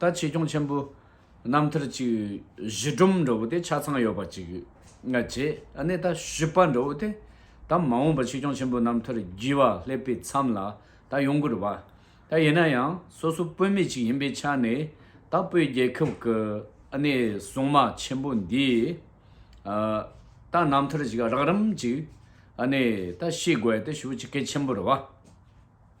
ད་ཆེ་སྐྱོང་ཆེན་པོའི་རྣམ་ཐར་གཅིག་གཞི་སྒྲོམ་འདྲ་བོ་དེ་ཆ་ཚང་ཡོད་པ་གཅིག་བྱས་ནས་ད་བཞི་པ་འདྲ་བོ་དེ་ད་མ་འོངས་པར་ཆེ་སྐྱོང་ཆེན་པོའི་རྣམ་ཐར་བགྱི་བ་སླེབས་པའི་མཚམས་ལ་ད་ཡོང་གི་རེད་བ། ད་ཡིན་ན་ཡང་སོ་སོ་དཔོན་མེད་ཅིག་ཡིན་པའི་ཆ་ནས་ད་དཔོན་རྒྱལ་ཁབ་ཀྱི་སྲུང་མ་ཆེན་པོ་འདིས་ད་རྣམ་ཐར་ཞིག་རགས་རིམ་ཅིག་ད་ཤེས་དགོས་ཞེས་ཞུ་རྒྱུ་གལ་ཆེན་པོ་རེད་བ།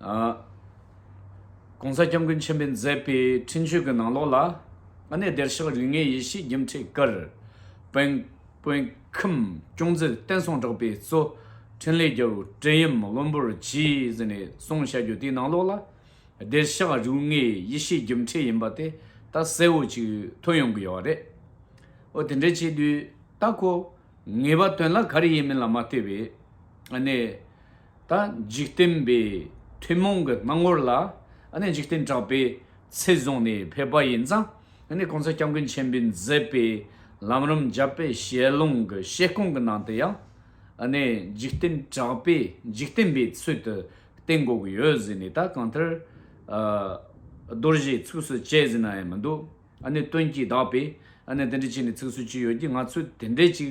ྋགོང་ས ྋསྐྱབས་མགོན་ཆེན་པོས་མཛད་པའི་འཕྲིན་བཅོལ་གྱི་ནང་ལོགས་ལ། ཨ་ནེ་བདེར་གཤེགས་རིགས་ལྔའི་ཡེ་ཤེས་རྒྱུན་འཁྲིད ྋསྐྱབས་མགོན་སྐྱོང་མཛད་བསྟན་སྲུང་གྲགས་པའི་གཙོ། འཕྲིན་ལས་རྒྱལ་པོ་བཀྲས་ཡུམ་བློན་པོར་གྱིས་ནས་གསུང་བཤད་རྒྱུ་དེའི་ནང་ལོགས་ལ། བདེར་གཤེགས་རིགས་ལྔའི་ཡེ་ཤེས་རྒྱུན་འཁྲིད་ཡིན་པ་དེ་ད་གསལ་བོ་ཅིག་ཐོས་ཡོང་གི་ཡོད་རེད། ཨོ་དེ་འདྲའི་བྱེད་དུས་ད་ཁོ་ངེས་པ་དོན་ལ་ག་རེ་ཡིན་མིན་ལ་མ་ལྟོས་པའི། ཨ་ནེ། ད་འཇིག་རྟེན་པའི་ཐུན་མོང་གི་སྣང་ངོར་ལ་འཇིག་རྟེན་གྲགས་པའི་ཚད་བཟུང་ནས་ཕེབས་པ་ཡིན་ཙང་གོང་ས་སྐྱབས་མགོན་ཆེན་པོས་མཛད་པའི་ལམ་རིམ་བརྒྱ་པའི་ཞལ་ལུང་གི་བཤད་སྐོང་གི་ནང་དུ་ཡང་འཇིག་རྟེན་གྲགས་པས་འཇིག་རྟེན་པའི་ཚུལ་དུ་བསྟན་དགོས་ཀྱི་ཡོད་ཟེར་ནས་ད་གང་ལྟར་རྡོ་རྗེའི་ཚིགས་སུ་བཅད་ཟིན་ན་ཡང་མི་འདུག་དོན་གྱིས་དག་པས་འདི་འདྲ་བྱས་ནས་ཚིགས་སུ་བཅད་ཡོད་ཀྱི་ང་ཚོས་དེ་འདྲས་ཅིག་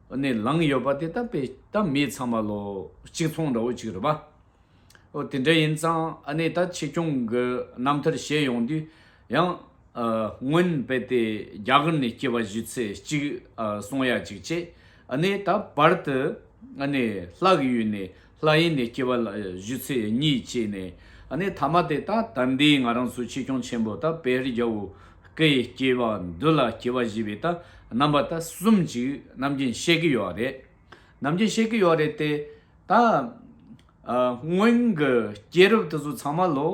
ནས་ལངས་ཡོད་པ་དེ་དག་པའི་མི་ཚང་མ་ལོ་གཅིག་མཚུངས་འདྲ་བོ་གཅིག་རེད་པ། དེ་འདྲ་ཡིན་ཙང་ད་ཕྱི་སྐྱོང་གི་རྣམ་ཐར་བཤད་ཡོང་དུས་ཡང། སྔོན་དཔེ་དེ་རྒྱ་གར་ནས་སྐྱེས་པ་བཞི་ཚེ་གཅིག་གསུང་ཡ་གཅིག་བྱས། ད་བར་དུ་ལྷག་ཡུལ་ནས་ལྷ་ཡིན་ནི་སྐྱེ་བ་ལ་བཞུད་ཚེ་གཉིད་བཅས་ནས་ནི་ཐ་མ་དེ་དག་དམ་པའི་ང་རང་སུ་ཆེ་སྐྱོང་ཆེན་པོ་དང་དཔལ་རྒྱ་བོ་ཀའི་སྐྱེ་བ་འདི་ལ་སྐྱེ་བ་བཞི་པའི་དང་རྣམ་པ་དང་གསུམ་ཅིག་རྣམ་མཁྱེན་བཤད་ཀྱི་ཡོད་རེད། རྣམ་མཁྱེན་བཤད་ཀྱི་ཡོད་རེད་དེ། ད། སྔོན་གྱི་སྐྱེས་རབས་དེ་ཚོ་ཚང་མ་ལོ།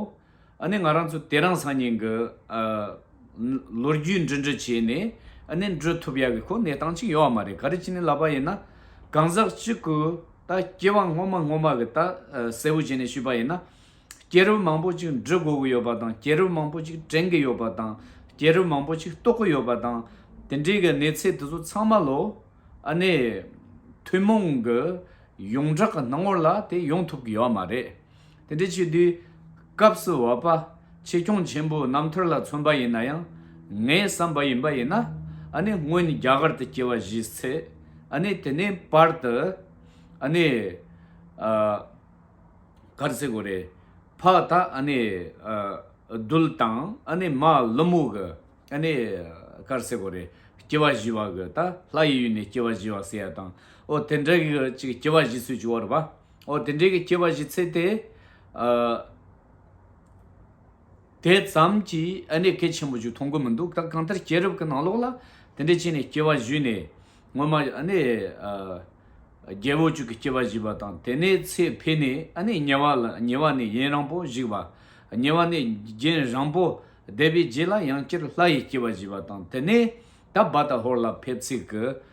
ཨ་ནི་ང་རང་ཚོ་དེ་རང་སང་ཉིན་གྱི་ལོ་རྒྱུས་འབྲི་འབྲི་བྱས་ནས་ཨ་ནི་འབྲི་ཐུབ་ཡག་གི་ཁོ་གནས་སྟངས་གཅིག་ཡོད་ཨ་མ་རེད་ག་རེ་བྱས་ནས་ལབ་པ་ཡིན་ན་གང་ཟག་གཅིག་གི་ད་སྐྱེ་བ་སྔོན་མ་སྔོན་མ་གི་ད་གསལ་བོ་བྱས་ནས་ཞུས་པ་ཡིན་ན་སྐྱེ་རུ་མང་པོ་གཅིག་འབྲི་དགོས་གི་ཡོད་པ་དང་སྐྱེ་རུ་མང་པོ་གཅིག་དྲན་གི་ཡོད་པ་དང་སྐྱེ་རུ་མང་པོ་གཅིག་རྟོགས་ཀྱི་ཡོད་པ་དང་དེ་འདྲའི་གི་གནས་ཚད་དེ་ཚོ་ཚང་མ་ལོ་ཨ་ནི་ཐུན་མོང་གི་ཡོངས་གྲགས་གི་སྣང་ངོར་ལ་དེ་ཡོང་ཐུབ་གི་ཡོད་ཨ་མ་རེད། དེ་འདྲའི་ཆེ་བསྟོད་སྐབས་སུ་བ་པ་ཆེ་སྐྱོང་ཆེན་པོ་རྣམ་ཐར་ལ་མཚོན་པ་ཡིན་ན་ཡང་ངའི་བསམ་པ་ཡིན་པ་ཡིན་ན་ཨ་ནི་སྔོན་རྒྱ་གར་དུ་སྐྱེ་བ་བཞིས་ཚེ་ཨ་ནི་དེ་ནས་པར་དུ་ཨ་ནི་གར་སེ་གོ་རེ་ཕག་དག་ཨ་ནི་རྡུལ་དང་ཨ་ནི་མ་ལུ་མུ་གུ་ཨ་ནི་གར་སེ་གོ་རེ་སྐྱེ་བ་བཞི་བ་གུ་དག་ལྷ་ཡི་ཡུལ་ནས་སྐྱེ་བ་བཞི་བ་ཟེར་ཡ་དང་ཨོ་དེ་འདྲ་གི་ཅིག་སྐྱེ་བ་བཞི་སུ་བྱུ་བར་བ། འོ་དེ་འདྲའི་གི་སྐྱེ་བ་བཞི་ཚེ་དེ། དེ་ཙམ་གྱིས་ཨ་ནི་གལ་ཆེན་པོ་ཞིག་མཐོང་གི་མི་འདུག་ད་གང་ལྟར་སྐྱེས་རབས་ཀྱི་ནང་ལོགས་ལ་དེ་འདྲའི་ཆེ་ནས་སྐྱེ་བ་བཞི་ནས་སྔོན་མ་ཨ་ནི། རྒྱལ་པོ་གཅིག་གི་སྐྱེ་བ་བཞི་པ་དང་དེ་ནས་ཚེ་འཕེལ་ནས་ཨ་ནི་ཉེ་བ་ལ་ཉེ་བ་ནས་ཡན་རང་པོ་བཞི་བ། ཉེ་བ་ནས་རྒྱན་རང་པོ་བཟླས་པའི་རྗེས་ལ་ཡང་སྤྱིར་ལྷ་ཡི་སྐྱེ་བ་བཞི་བ་དང་དེ་ནས་ད་བཱ་ད་ཧོར་ལ་ཕེབས་ཚིག་གི།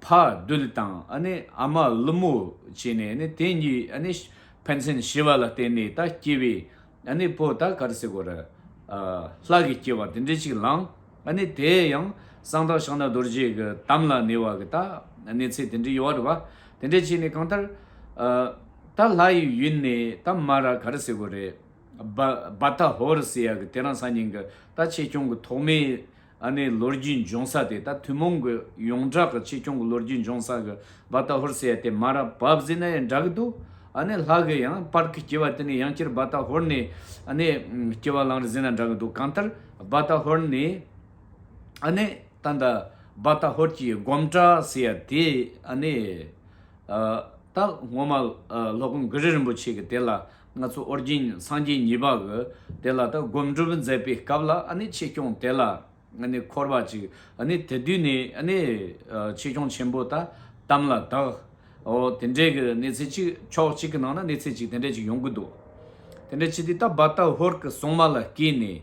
ཕ་རྡུལ་དང་ཨ་མ་ཀླུ་མོ་བྱས་ནས་དེ་གཉིས་ཕན་ཚུན་ཤི་བ་ལ་བརྟེན་ནས་ད་སྐྱེས་པའི་བུ་ད་གར་སའི་གོ་རེ་ལྷ་གི་སྐྱེ་བ་དེ་འདྲའི་ཅིག་བླངས་དེ་ཡང་གསང་བདག་ཕྱག་ན་རྡོ་རྗེ་གི་དམ་ལ་ཉེ་བ་གི་ད་གནས་ཚད་དེ་འདྲའི་ཡོད་རེད་བ་དེ་འདྲའི་བྱས་ནས་གང་ལྟར་ད་ལྷ་ཡི་ཡུལ་ནས་ད་མ་ར་གར་སའི་གོ་རེ་རྦ་ད་ཧོར་སེ་ཡ་གི་དེ་རང་ས་ཉིན་གི་ད་ཆེ་ཆུང་གི་ཐོག་མའི། ཨ་ནེའི་ལོ་རྒྱུས་འབྱུང་ས་དེ་ད་ཐུན་མོང་གི་ཡོངས་གྲགས་ཀྱི་ཆེ་ཆུང་གི་ལོ་རྒྱུས་འབྱུང་ས་གི་བ་ད་ཧོར་ཟེར་ཡ་དེ་མ་ར་བབས་ཟེར་ན་ཡང་འདྲ་གི་འདུག་ཨ་ནེ་ལྷ་གི་ཡང་སྤར་གི་སྐྱེ་བ་དེ་ནི་ཡང་སྐྱེར་བ་ད་ཧོར་ནས་ཨ་ནེ་སྐྱེ་བ་བླངས་རེད་ཟེར་ན་འདྲ་གི་འདུག་གང་ལྟར་བ་ད་ཧོར་ནས་ཨ་ནེ་ད་འདའ་བ་ད་ཧོར་གྱི་སྒོམ་གྲྭ་ཟེར་ཡ་དེ་ཨ་ནེ་ད་སྔོན་མ་ལྷོ་ཀོང་གྷི་རི་རིན་པོ་ཆེ་གི་དེ་ལ་ང་ཚོ་ཨོ་རྒྱན་སངས་རྒྱས་གཉིས་པ་གི་དེ་ལ་ད་སྒོམ་སྒྲུབ་མཛད་པའི་སྐབས་ལ་ཆེ་སྐྱོང་དེ་ལ་འཁོར་བ་ཅིག་དེ་དུས་ནས་ཆེ་སྐྱོང་ཆེན་པོ་ད་དམ་ལ་དྭགས་དེ་འདྲའི་གི་གནས་ཚད་ཅིག་ཕྱོགས་གཅིག་གི་ནང་ན་གནས་ཚད་ཅིག་དེ་འདྲ་ཅིག་ཡོང་གི་འདུག་དེ་འདྲ་ཅིག་དེ་ད་བར་ད་ཧོར་གི་སྲུང་མ་ལ་བསྐྱེད་ནས་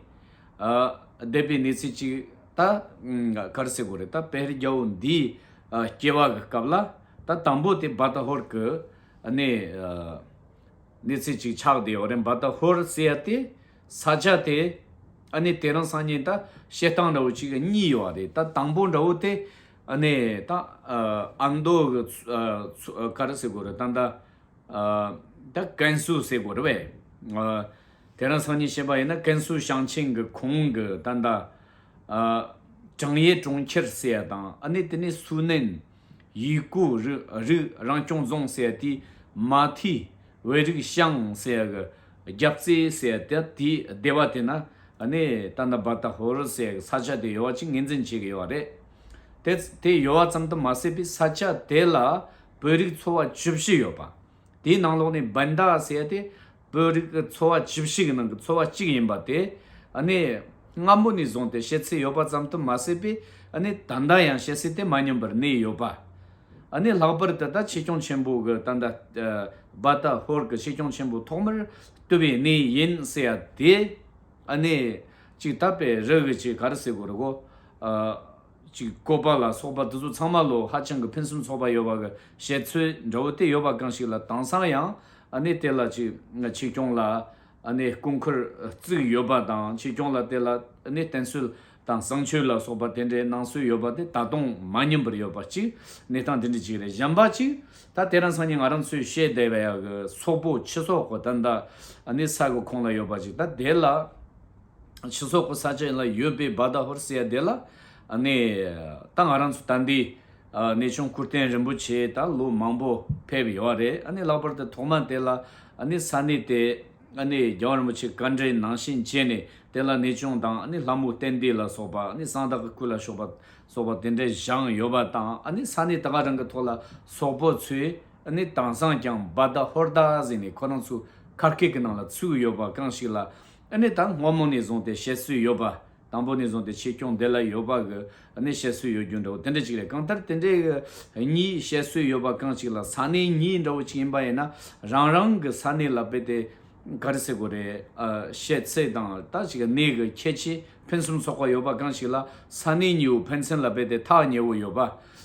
བསྡད་པའི་གནས་ཚད་ཅིག་ད་གར་སེ་གོ་རེད་ད་དཔལ་རྒྱལ་པོ་འདིའི་སྐྱེ་བ་གི་སྐབས་ལ་ད་དང་པོ་དེ་བར་ད་ཧོར་གི་གནས། གནས་ཚུལ་གཅིག་ཆགས་དེ་ཡོག་རེན་བ་ད་ཧོར་སེ་ཡ་ཏེ་ས་ཆ་དེ་ཨ་ནི་དེ་རང་སང་ཉིན་ད་བཤད་སྟངས་འདྲ་བོ་གཅིག་གི་གཉིས་ཡོ་བ་རེད་ད་དང་པོ་འདྲ་བོ་དེ་ཨ་ནི་ད་ཨ་མདོ་གི་ཚུ་ཀ་ར་སེ་གོ་རེ་ད་ད་ད་ཀན་སུའུ་སེ་གོ་རེ་བས་དེ་རང་སང་ཉིན་བཤད་པ་ཡིན་ན་ཀན་སུའུ་ཞང་ཆེན་གི་གོང་གི་ད་ད་ཀྲང་ཡེ་གྲོང་ཁྱེར་སེ་ཡ་དང་ཨ་ནི་དེ་ནས་སུའུ་ནན། ཡུལ་སྐུ་རིགས་རང་སྐྱོང་རྫོང་གསལ་ཏེ་མ་མཐའི་བོད་རིགས་ཤང་གསལ་གྱི་རྒྱབ་རྩེ་གསལ་ཏེ་དེའི་སྡེ་བ་དེ་ན་གནས་ད་ན་བར་ད་ཧོར་གསལ་གྱི་ས་ཆ་དེ་ཡོལ་བ་གཅིག་ངེས་འཛིན་བྱེད་ཀྱི་ཡོད་རེད་དེ། དེ་ཡོལ་བ་ཙམ་དུ་མ་ཟད་པའི་ས་ཆ་དེ་ལ་བོད་རིགས་ཚོ་བ་བཅུ་བཞི་ཡོད་པ། དེའི་ནང་ལོགས་ནས་བན་དཱ་གསལ་ཏེ། བོད་རིགས་ཀྱི་ཚོ་བ་བཅུ་བཞི་གྱི་ནང་གི་ཚོ་བ་གཅིག་ཡིན་པ་དེ་ནི་སྔ་མོ་ནས་བཟུང་སྟེ་བཤད་ཚུལ་ཡོད་པ་ཙམ་དུ་མ་ཟད་པས་ད་ལྟ་ཡང་བཤད་ཚུལ་དེ་མ་སྙོམས་པར་གནས་ཡོད་པ། ལྷག་པར་དུ་ད་ཕྱི་སྐྱོང་ཆེན་པོ་གི་ད་བ་ད་ཧོར་གྱི་ཕྱི་སྐྱོང་ཆེན་པོ་ཐོག་མར་བཏུལ་བའི་གནས་ཡིན་ཟེར་ཡ་དེ་ནི་ཅིག་ད་པའི་རིགས་ཀྱི་གར་སའི་སྐོར་གོ། ཅིག་བཀོད་པ་ལ་སོགས་པ་འདི་ཚོ་ཚང་མ་ལོ་ཧ་ཅང་གི་ཕུན་སུམ་ཚོགས་པ་ཡོད་པ་གི་བཤད་ཚུལ་འདྲ་བོ་དེ་ཡོད་པ་གང་ཞིག་ལ་དྭངས་སང་ཡང་ནི་དེ་ལ་ཅིག་ཆེ་སྐྱོང་ལ་ནི་སྐུ་འཁོར་བརྩིགས་ཡོད་པ་དང་ཆེ་སྐྱོང་ལ་དེ་ལ་ནི་བསྟེན་སྲོལ་དང་བསང་མཆོད་ལ་སོགས་པ་དེ་འདྲའི་གནང་སྲོལ་ཡོད་པ་དེ་ད་དུང་མ་ཉམས་པར་ཡོད་པ་ཅིག་གནས་སྟངས་དེ་འདྲ་ཅིག་རེད་གཞན་པ་ཅིག་ད་དེ་རང་སང་ཉིན་ང་རང་ཚོས་བཤད་བསྡད་པའི་གི་སོག་པོ་ཆེ་སོགས་གོ་ད་འདི་ནི་ས་གི་ཁོངས་ལ་ཡོད་པ་ཅིག་ད་དེ་ལ། ཕྱི་སོག་པོ་ས་ཆ་ལ་ཡོད་པའི་བཱ་ད་ཧོར་སེ་ཡ་དེ་ལ་ནས་ད་ང་རང་ཚོ་ད་འདི་ནས་ཆུང་ཁུར་ཏན་རིན་པོ་ཆེ་ད་ལོ་མང་པོ་ཕེབས་ཡོད་རེད་ཨ་ནས་ལྷག་པར་དུ་ཐོག་མ་དེ་ལ་ནས་ས་གནས་དེ་ཨ་ནས་རྒྱལ་བ་རིན་པོ་ཆེ་བཀའ་འབྲེལ་ནང་བཞིན་བྱས་ནས་དེ་ལ་ནས་ཆུང་དང་ཨ་ནས་ལྷ་མོ་གཏན་འདི་ལ་སོགས་པ་ཨ་ནས་གསང་བདག་གི་སྐུ་ལ་ཤོག་པ་སོགས་པ་དེ་འདྲ་བཞེངས་ཡོད་པ་དང་ཨ་ནས་ས་གནས་དེ་ག་རང་གི་ཐོག་ལ་སོག་པོ་ཚོའི་ཨ་ནས་དྭངས་སངས་ཀྱང་བཱ་ད་ཧོར་ད་གཟིགས་ནས་ཁོ་རང་ཚོའི་ཁ་སྐད་ཀྱི་ནང་ལ་ཚུགས་ཡོད་པ་གང་ཞིག་ལ་ཨ་ནི་དང་སྔོན་མོ་ནས་བཟུང་སྟེ་བཤད་སྲོལ་ཡོད་པ། དང་པོ་ནས་བཟུང་སྟེ་ཆེད་སྐྱོང་དེ་ལ་ཡོད་པ་གི་ཨ་ནི་བཤད་སྲོལ་ཡོད་རྒྱུ་འདྲ་བོ་དེ་འདྲ་གཅིག་རེད་གང་ལྟར་དེ་འདྲའི་གི་ཨ་ནི་བཤད་སྲོལ་ཡོད་པ་གང་གཅིག་ལ་ས་གནས་གཉིས་འདྲ་བོ་གཅིག་ཡིན་པ་ཡིན་ན་རང་རང་གི་ས་གནས་ལ་དཔེ་དེ་ག་རེ་ཟེར་དགོས་རེད་ཨ་བཤད་ཚད་དང་ད་ཅིག་ཨ་ནི་གི་ཁྱད་ཆེ་ཕན་སུམ་ཚོགས་པ་ཡོད་པ་གང་གཅིག་ལ་ས་གནས་གཉིས་བོ་ཕན་ཚན་ལ་དཔེ་དེ་ཐག་ཉེ་བོ་ཡོད་པ་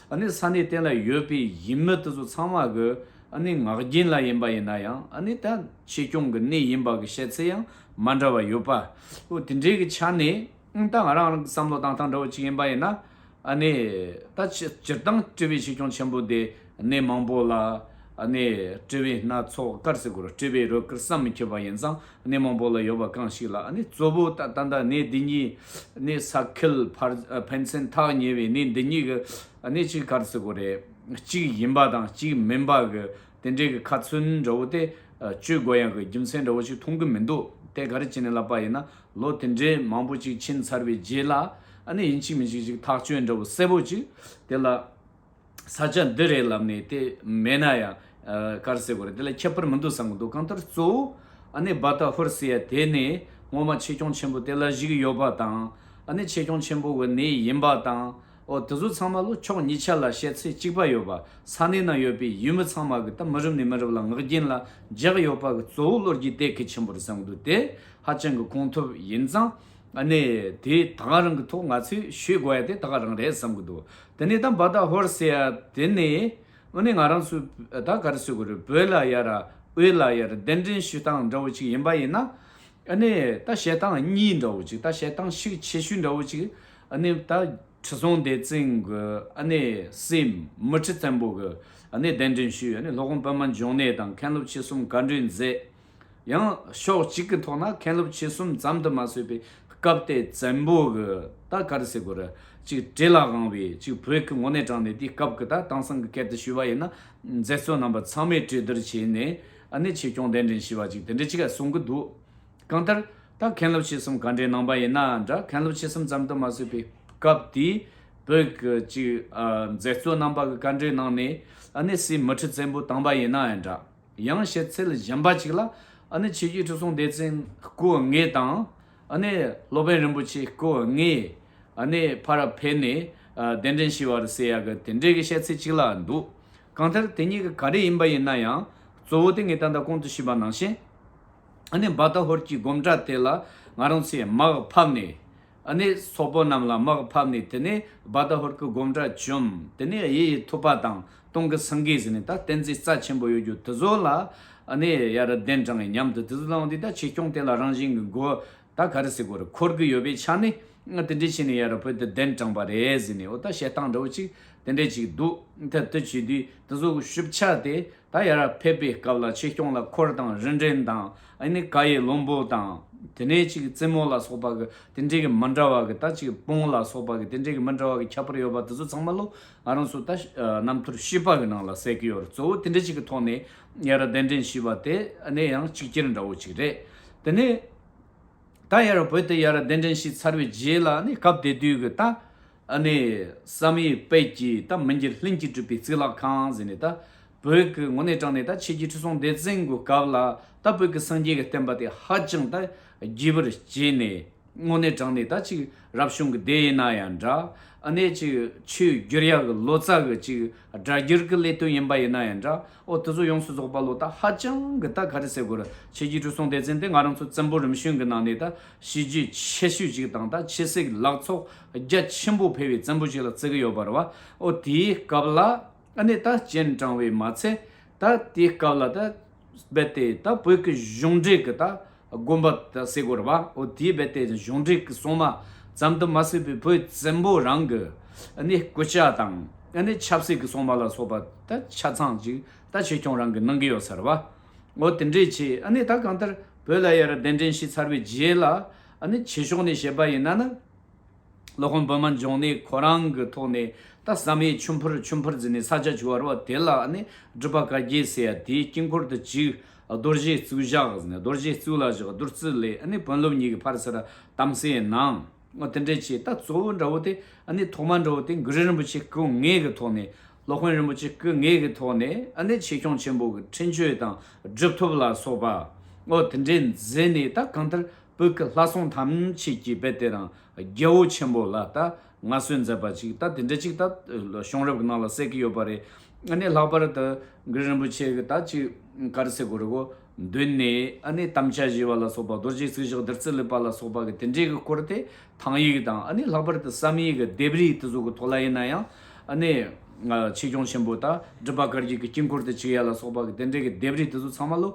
ཨ་ནི་ས་གནས་གཏན་ལ་ཡོད་པའི་ཡིན་མི་དེ་ཚོ་ཚང་མ་གི་ཨ་ནི་ངག་རྒྱུན་ལ་ཡིན་པ་ཡིན་ན་ཡང་ཨ་ནི་ད། ཆེད་སྐྱོང་གི་གནས་ཡིན་པ་གི་བཤད་ཚད་ཡང་མ་འདྲ་བ་ཡོད་པ། ཨོ་དེ་འདྲའི་གི་ཆ་ནས་ད་ང་རང་རང་གི་བསམ་བློ་དང་ཐང་འདྲ་བོ་གཅིག་ཡིན་པ་ཡིན་ན་ནི་ད་སྤྱིར་བཏང་བཀྲིས་པའི་ཆེད་སྐྱོང་ཆེན་པོ་དེ་གནས་མང་པོ་ལ་ནི་བཀྲིས་པའི་སྣ་ཚོགས་དཀར་ཟེར་དགོས་རོགས་བཀྲིས་པའི་རོལ་དཀར་བསམ་མི་ཁྱབ་པ་ཡིན་ཙང་གནས་མང་པོ་ལ་ཡོད་པ་གང་ཞིག་ལ་ནི་གཙོ་བོ་ད་ད་ལྟ་གནས་འདི་གཉིས་ནི་ས་ཁེལ་ཕར་ཕན་ཚན་ཐག་ཉེ་བའི་གནས་འདི་གཉིས་གི་གནས་གཅིག་དཀར་ཟེར་དགོས་རེད་གཅིག་ཡིན་པ་དང་གཅིག་མིན་པ་གི་དེ་འདྲའི་གི་ཁ་མཚོན་འདྲ་བོ་སྟེ། སྤྱོད་སྒོ་ཡང་གི་རྒྱུ་མཚན་འདྲ་བོ་ཞིག་མཐོང་གི་མི་འདུག་སྟེ་ག་རེ་བྱས་ནས་ལབ་པ་ཡིན་ན་ལོ་དེ་འདྲའི་མང་པོ་ཅིག་ཕྱིན་ཚར་བའི་རྗེས་ལ་ནི་ཡིན་གཅིག་མིན་གཅིག་ཅིག་ཐག་གཅོད་འདྲ་བོ་གསལ་བོ་ཅིག་དེ་ལ། ས་ཆ་འདི་རེད་ལབ་ནས་དེ་མེད་ན་ཡང་དཀར་བསེ་གོ་རེ་དེ་ལ་ཁྱད་པར་མི་འདུག་བསམ་གི་འདུག་གང་ལྟར་གཙོ་བོ་ནི་རྦ་ཐག་ཧོར་སེ་ཡ་དེ་ནི་སྔོན་མ་ཆེ་སྐྱོང་ཆེན་པོ་དེ་ལ་གཞིགས་ཡོད་པ་དང། ཆེ་སྐྱོང་ཆེན་པོ་གི་ནི་ཡིན་པ་དང། ཨོ་དེ་ཚོ་ཚང་མ་ལོ་ཕྱོགས་གཉིས་ཆ་ལ་བཤད་ཚེ་གཅིག་པ་ཡོད་པ་ས་གནས་ན་ཡོད་པའི་ཡུལ་མི་ཚང་མ་གི་ད་མི་རབས་ནས་མི་རབས་ལ་ངག་རྒྱན་ལ་རྒྱག་ཡོད་པ་གི་གཙོ་བོ་བློ་རྒྱས་དད་གུས་ཆེན་པོར་བཟང་འདུག་དེ་ཧ་ཅང་གི་གོང་ཐུབ་ཡིན་ཙང་ནི་དེ་ད་ག་རང་གི་ཐོག་ང་ཚོས་ཤོད་དགོས་ཡ་དེ་ད་ག་རང་རེད་བསམ་གི་འདུག་དེ་ནས་ད་འབའ་ད་ཧོར་ཟེར་ཡ་དེ་ནི་ཨོ་ནི་ང་རང་ཚོས་ད་ག་རེ་ཟེར་དགོས་རེད་བོད་ལ་ཡ་ར་དབུས་ལ་ཡ་ར་གདན་འདྲེན་ཞུ་སྟངས་འདྲ་བོ་ཅིག་ཡིན་པ་ཡིན་ན་ནི་ད་བཤད་སྟངས་གཉིས་འདྲ་བོ་ཅིག་ད་བཤད་སྟངས་ཤུགས་ཆེ་ཤོས་འདྲ་བོ་ཅིག་ཨ་ནེ་ད་ཁྲི་སྲོང་ལྡེ་བཙན་གྱི་ཨ་ནེ་སྲས་མི་ཁྲི་བཙན་པོ་གྱི་ཨ་ནེ་གདན་འདྲེན་ཞུས་ཨ་ནེ་ལྷོ་ཁོངས་པད་མ་འབྱུང་གནས་དང་མཁན་སློབ་ཆེ་གསུམ་བཀའ་འདྲི་མཛད། ཡང་ཕྱོགས་གཅིག་གི་ཐོག་ན་མཁན་སློབ་ཆེ་གསུམ་ཙམ་དུ་མ་བཟོད་པའི་སྐབས་ཏེ་བཙན་པོ་གྱི་ད་གར་སི་གོ་ར་ཅིག་བྲེ་ལག་དབང་བས་ཅིག་བོད་ཀྱི་ངོ་ནས་དྲངས་ནས་དེའི་སྐབས་ཀྱི་ད་དེང་སང་གི་སྐད་དུ་ཞུས་པ་ཡིན་ན་མཛད་གཙོ་རྣམ་པ་ཚང་མས་གྲོས་བསྡུར་བྱས་ནས་ཨ་ནེ་ཆོས་སྐྱོང་གདན་འདྲེན་ཞུས་པ་ཅིག་དེ་འདྲ་ཅིག་གསུང་གི་འདུག་གང་ལྟར། ད་མཁན་སློབ་ཆེ་གསུམ་ག་འདྲའི་ནང་པ་ཡིན་ན་འདྲ་མཁན་སློབ་ཆེ་གསུམ་ཙམ་དུ་མ་བཟོས་པའི་སྐབས་དེའི་བོད་ཀྱི་མཛད་གཙོ་རྣམ་པ་གི་བཀའ་འབྲེལ་ནང་ནས་ཨ་ནེ་སི་མི་ཁྲི་བཙན་པོ་བཏང་པ་ཡིན་ན་འདྲ། ཡང་བཤད་ཚུལ་གཞན་པ་ཅིག་ལ། ཨ་ནེ་ཆོས་རྒྱུད་ཁྲི་སྲོང་ལྡེ་བཙན་སྐུ་ལྔས་དང། ཨ་ནེ་སློབ་དཔོན་རིན་པོ་ཆེ་སྐུ་ལྔས་ཨ་ནེ་ཕ་རབ་འཕེལ་ནས་གདན་འདྲེན་ཞུས་བར་ཟེར་ཡག་གི་དེ་འདྲའི་གི་བཤད་ཚུལ་ཅིག་ལ་འདུག་གང་ལྟར་དེ་གཉིས་ཀ་ག་རེ་ཡིན་པ་ཡིན་ན་ཡང་གཙོ་བོ་དེ་ངས་ད་ལྟ་གོང་དུ་ཞུས་པ་ནང་བཞིན། ནི་འབའ་ད་ཧོར་གྱི་སྒོམ་གྲྭ་དེ་ལ་ང་རང་ཚོས་དམག་ཕབ་ནས། ནི་སོག་པོ་རྣམས་ལ་དམག་ཕབ་ནས་དེ་ནས་འབའ་ད་ཧོར་གྱི་སྒོམ་གྲྭ་བཅོམ། དེ་ནས་དབྱི་ཡི་ཐུབ་པ་དང་སྟོང་གི་སེང་གེ་ཟེར་ནས་ད་བསྟན་རྩིས་རྩ་ཆེན་པོ་ཡོད་རྒྱུ་དེ་ཚོ་ལ། ནི་ཡ་ར་གདན་དྲངས་མཉམ་དུ་དེ་ཚོ་བླངས་ཏེ་ད་བྱིས་སྐྱོང་དེ་ལ་རང་བཞིན་གྱི་མགོ་ད་ག་རེ་སེ་གོ་རེ་འཁོར་གྱི་ཡོད་པའི་ཆ་ནས། དེ་འདྲས་བྱས་ནས་ཡ་ར་བོད་དུ་གདན་དྲངས་པ་རེད་ཟེར་ནས་འོ་ད་བཤད་སྟངས་འདྲ་བོ་ཅིག་དེ་འདྲས་ཅིག་འདུག་ད་དེ་བྱས་དུས་དེ་ཚོ་ཤུབས་ཆགས་ཏེ་ད་ཡར་ཕེབས་པའི་སྐབས་ལ་ཆེ་སྐྱོང་ལ་འཁོར་དང་རིན་བྲན་དང་ཨ་ནི་ཀ་ཡི་བློན་པོ་དང། དེ་ནས་ཅིག་རྩེ་མོ་ལ་སོགས་པ་གི་དེ་འདྲས་ཀྱི་མི་འདྲ་བ་གི་ད་ཅིག་སྤུངས་ལ་སོགས་པ་གི་དེ་འདྲས་ཀྱི་མི་འདྲ་བ་གི་ཁྱད་པར་ཡོད་པ་དེ་ཚོ་ཚང་མ་ལོ་ང་རང་ཚོ་ད་རྣམ་ཐོར་ཤེས་པ་གི་ནང་ལ་གསལ་གི་ཡོད་རེད་གཙོ་བོ་དེ་འདྲས་ཅིག་གི་ཐོག་ནས་ཡར་གདན་འདྲེན་ཞེས་པ་དེ་ཨ་ནི་ཡང་གཅིག་གྱེར་འདྲ་བོ་ཅིག་རེད། དེ་ནས་ད་ཡར་བོད་དུ་ཡར་གདན་འདྲེན་ཞེས་ཚར་བའི་རྗེས་ལ་ཨ་ནི་སྐབས་དེ་དུས་གི་ད། ཨ་ནེ་བསམ་ཡས་དཔལ་གྱིས་ད་མི་འགྱུར་ལྷན་གྱིས་གྲུབ་པའི་རྩིས་ལག་ཁང་གཟིགས་ནས་ད་བོད་ཀྱི་ངོ་གནས་དྲངས་ནས་ད་ཆོས་རྒྱལ་ཁྲི་སྲོང་ལྡེ་བཙན་གྱི་སྐབས་ལ་ད་བོད་ཀྱི་སངས་རྒྱས་ཀྱི་བསྟན་པ་དེ་ཧ་ཅང་ད་རྒྱས་པར་བྱས་ནས་ངོ་གནས་དྲངས་ནས་ད་ཅིག་རབ་བྱུང་གི་སྡེ་ཡིན་ན་ཡང་འདྲ་ཨ་ནེ་ཅིག་ཆོས་བསྒྱུར་ཡག་གི་ལོ་ཙཱ་གི་ཅིག་སྒྲ་བསྒྱུར་གི་ལས་དོན་ཡིན་པ་ཡིན་ན་ཡང་འདྲ་ཨོ་དེ་ཚོ་ཡོངས་སུ་རྫོགས་པ་ལོ་ད་ཧ་ཅང་གི་ད་ག་རེ་ཟེར་དགོས་ར་ཆོས་རྒྱལ་ཁྲི་སྲོང་ལྡེ་བཙན་དེ་ང་རང་ཚོ་བཙན་པོ་རིམ་བྱོན་གྱི་ནང་ནས་ད་གཞི་རྒྱུ་ཆེ་ཤོས་ཅིག་དང་ད་ཕྱི་སྲིད་ལག་ཚོགས། རྒྱ་ཆེན་པོ་འཕེལ་བའི་བཙན་པོ་ཞིག་ལ་བརྩི་གི་ཡོད་པར་བའོ། དེའི་སྐབས་ལ་ནི་ད་སྤྱན་དྲང་བས་མ་ཚད་ད་དེའི་སྐབས་ལ་ད་རྦད་དེ་ད་བོད་ཀྱི་གཞུང་འབྲེལ་གྱི་ད་དགོན་པ་ད་བསྲེག་དགོས་བའོ། དེའི་རྦད་དེ་གཞུང་འབྲེལ་གྱི་སྲུང་མ་ཙམ་དུ་མ་བསྲེག་པའི་བོད་བཙན་པོ་རང་གི་ནི་སྐུ་ཕྱྭ་དང་ནི་ཆབ་སྲིད་ཀྱི་སྲུང་མ་ལ་སོགས་པ་ད་ཆ་ཚང་ཞིག་ད་ཆོས་སྐྱོང་རང་གིས་གནང་གི་ཡོད་ཚར་བའོ། དེ་འདྲའི་ཆེད་ནི་ད་གང་ལྟར་བོད་ལ་ཡར་གདན་འདྲེན་ཞིག་ཚར་བའི་རྗེས་ལ་ནི་བྱེད་ཕྱོགས་ནི་བཤད་པ་ཡིན་ན་ནི། ལོ་ཁོང་བོད་མ་འབྱུང་ནས་ཁོ་རང་གི་ཐོག་ནས་ད་བསམ་ཡས་ཆུ་འཕུར་ཆུ་འཕུར་ཟེར་ནས་ས་ཆ་བྱུ་བ་རུ་བ་དེ་ལ་ནི་སྒྲུབ་པ་བཀའ་རྒྱས་ཟེར་ཡ་དེའི་དཀྱིལ་འཁོར་དུ་བཅུག་རྡོ་རྗེ་བཙུགས་བཞག་ཟེར་ནས་རྡོ་རྗེ་བཙུགས་ལ་བཞག་བདུད་རྩི་ལས་ནི་བོན་སློབ་གཉིས་ཀྱི་བར་ཟེར་དམ་སའི་ནང་ངོ་དེ་འདྲས་བྱས་ད་གཙོ་བོ་འདྲ་བོ་དེ་ནི་ཐོག་མ་འདྲ་བོ་དེ་མགུར་རིན་པོ་ཆེ་སྐུ་ལྔས་ཀྱི་ཐོག་ནས་སློབ་དཔོན་རིན་པོ་ཆེ་སྐུ་ལྔས་ཀྱི་ཐོག་ནས་ནི་ཆེ་སྐྱོང་ཆེན་པོ་གི་འཕྲིན་བཅོལ་དང་སྒྲུབ་ཐོབ་ལ་སོགས་པ་ངོ་དེ་འདྲས་མཛད་ནས་ད་གང་ལྟར་བུག་ལྷ་སྲུང་ཐམས་ཅད་ཀྱིས་དཔེ་དེ་རང་རྒྱལ་བོ་ཆེན་པོ་ལ་ལྟ་ང་གསོལ་མཛད་པ་ཅིག་ལྟ་དེ་འདྲ་ཅིག་ལྟ་གཤོང་རབ་ཀྱི་ནང་ལ་བསྲེག་གི་ཡོད་པ་རེད་ཨ་ནི་ལྷག་པར་དུ་མགུར་རིན་པོ་ཆེ་གི་ད་ཅིག་དཀར་བསེ་གོ་རི་གོ་མདུན་ནས་ཨ་ནི་དམ་བཅའ་བཞེས་པ་ལ་སོགས་པ་རྡོ་རྗེ་ཚིག་བཞག་བདུད་རྩི་ལུད་པ་ལ་སོགས་པ་གི་དེ་འདྲའི་གི་སྐོར་དེ་ཐང་ཡིག་དང་ཨ་ནི་ལྷག་པར་དུ་བསམ་ཡིག་གི་ལྡེབས་རིས་དེ་ཚོ་གི་ཐོག་ལ་ཡིན་ན་ཡང་ཨ་ནི་ཆོས་སྐྱོང་ཆེན་པོ་ད་སྒྲུབ་པ་གར་གྱི་གི་དཀྱིལ་འཁོར་དུ་ཆིག་ཡ་ལ་སོགས་པ་གི་དེ་འདྲའི་གི་ལྡེབས་རིས་དེ་ཚོ་ཚང་མ་ལོ།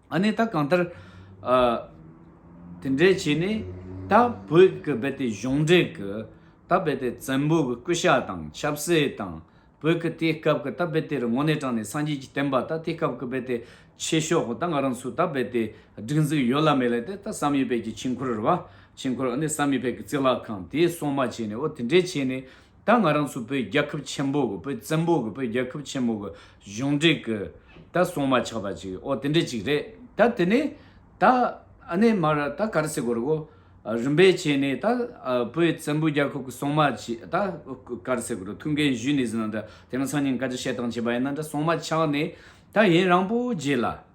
ཨ་ནེ་ད་གང་ལྟར། དེ་འདྲའི་བྱས་ནས། ད་བོད་ཀྱི་རྦད་དེ་གཞུང་འབྲེལ་གྱི། ད་རྦད་དེ་བཙན་པོ་གྱི་སྐུ་ཤ་དང་ཆབ་སྲིད་དང། བོད་ཀྱི་དེའི་སྐབས་ཀྱི་ད་རྦད་དེ་རི་ངོ་ནས་དྲངས་ནས་སངས་རྒྱས་ཀྱི་བསྟན་པ་ད་དེའི་སྐབས་ཀྱི་རྦད་དེ་ཆེ་ཤོག་ད་ང་རང་ཚོ་ད་རྦད་དེ་སྒྲིག་འཛུགས་ཡོད་ལ་མེད་ལ་དེ་ད་བསམ་ཡས་བལ་གྱི་ཆིང་འཁོར་ར་བ། ཆིང་འཁོར་ཨ་ནེ་བསམ་ཡས་བལ་གྱི་རྩིག་ལག་ཁང་དེའི་སྲུང་མ་བྱས་ནས་ཨོ་དེ་འདྲའི་བྱས་ནས། ད་ང་རང་ཚོ་བོད་རྒྱལ་ཁབ་ཆེན་པོ་གི་བོད་བཙན་པོ་གི་བོད་རྒྱལ་ཁབ་ཆེན་པོ་གི་གཞུང་འབྲེལ་གི་ད་སྲུང་མ་ཆགས་པ་ཅིག་ཨོ་དེ་འདྲ་ཅིག་རེད་ད་དེ་ནས་ད་ཨ་ནེ་མར་ད་ག་རེ་སེ་གོ་རེ་གོ་རིམ་པས་བྱས་ནས་ད་བོད་བཙན་པོ་རྒྱལ་ཁབ་གི་སྲུང་མ་ཅིག་ད་ག་རེ་སེ་གོ་རེ་ཐུགས་འགན་བཞུས་ནས་ཟིན་ན་འདྲ་དེ་ང་ཚང་གཉིས་ཀ་ཅིག་བཤད་སྟངས་བྱས་པ་ཡིན་ན་འདྲ་སྲུང་མ་ཆགས་ནས་ད་ཡིན་རང་པོ་རྗེས་ལ།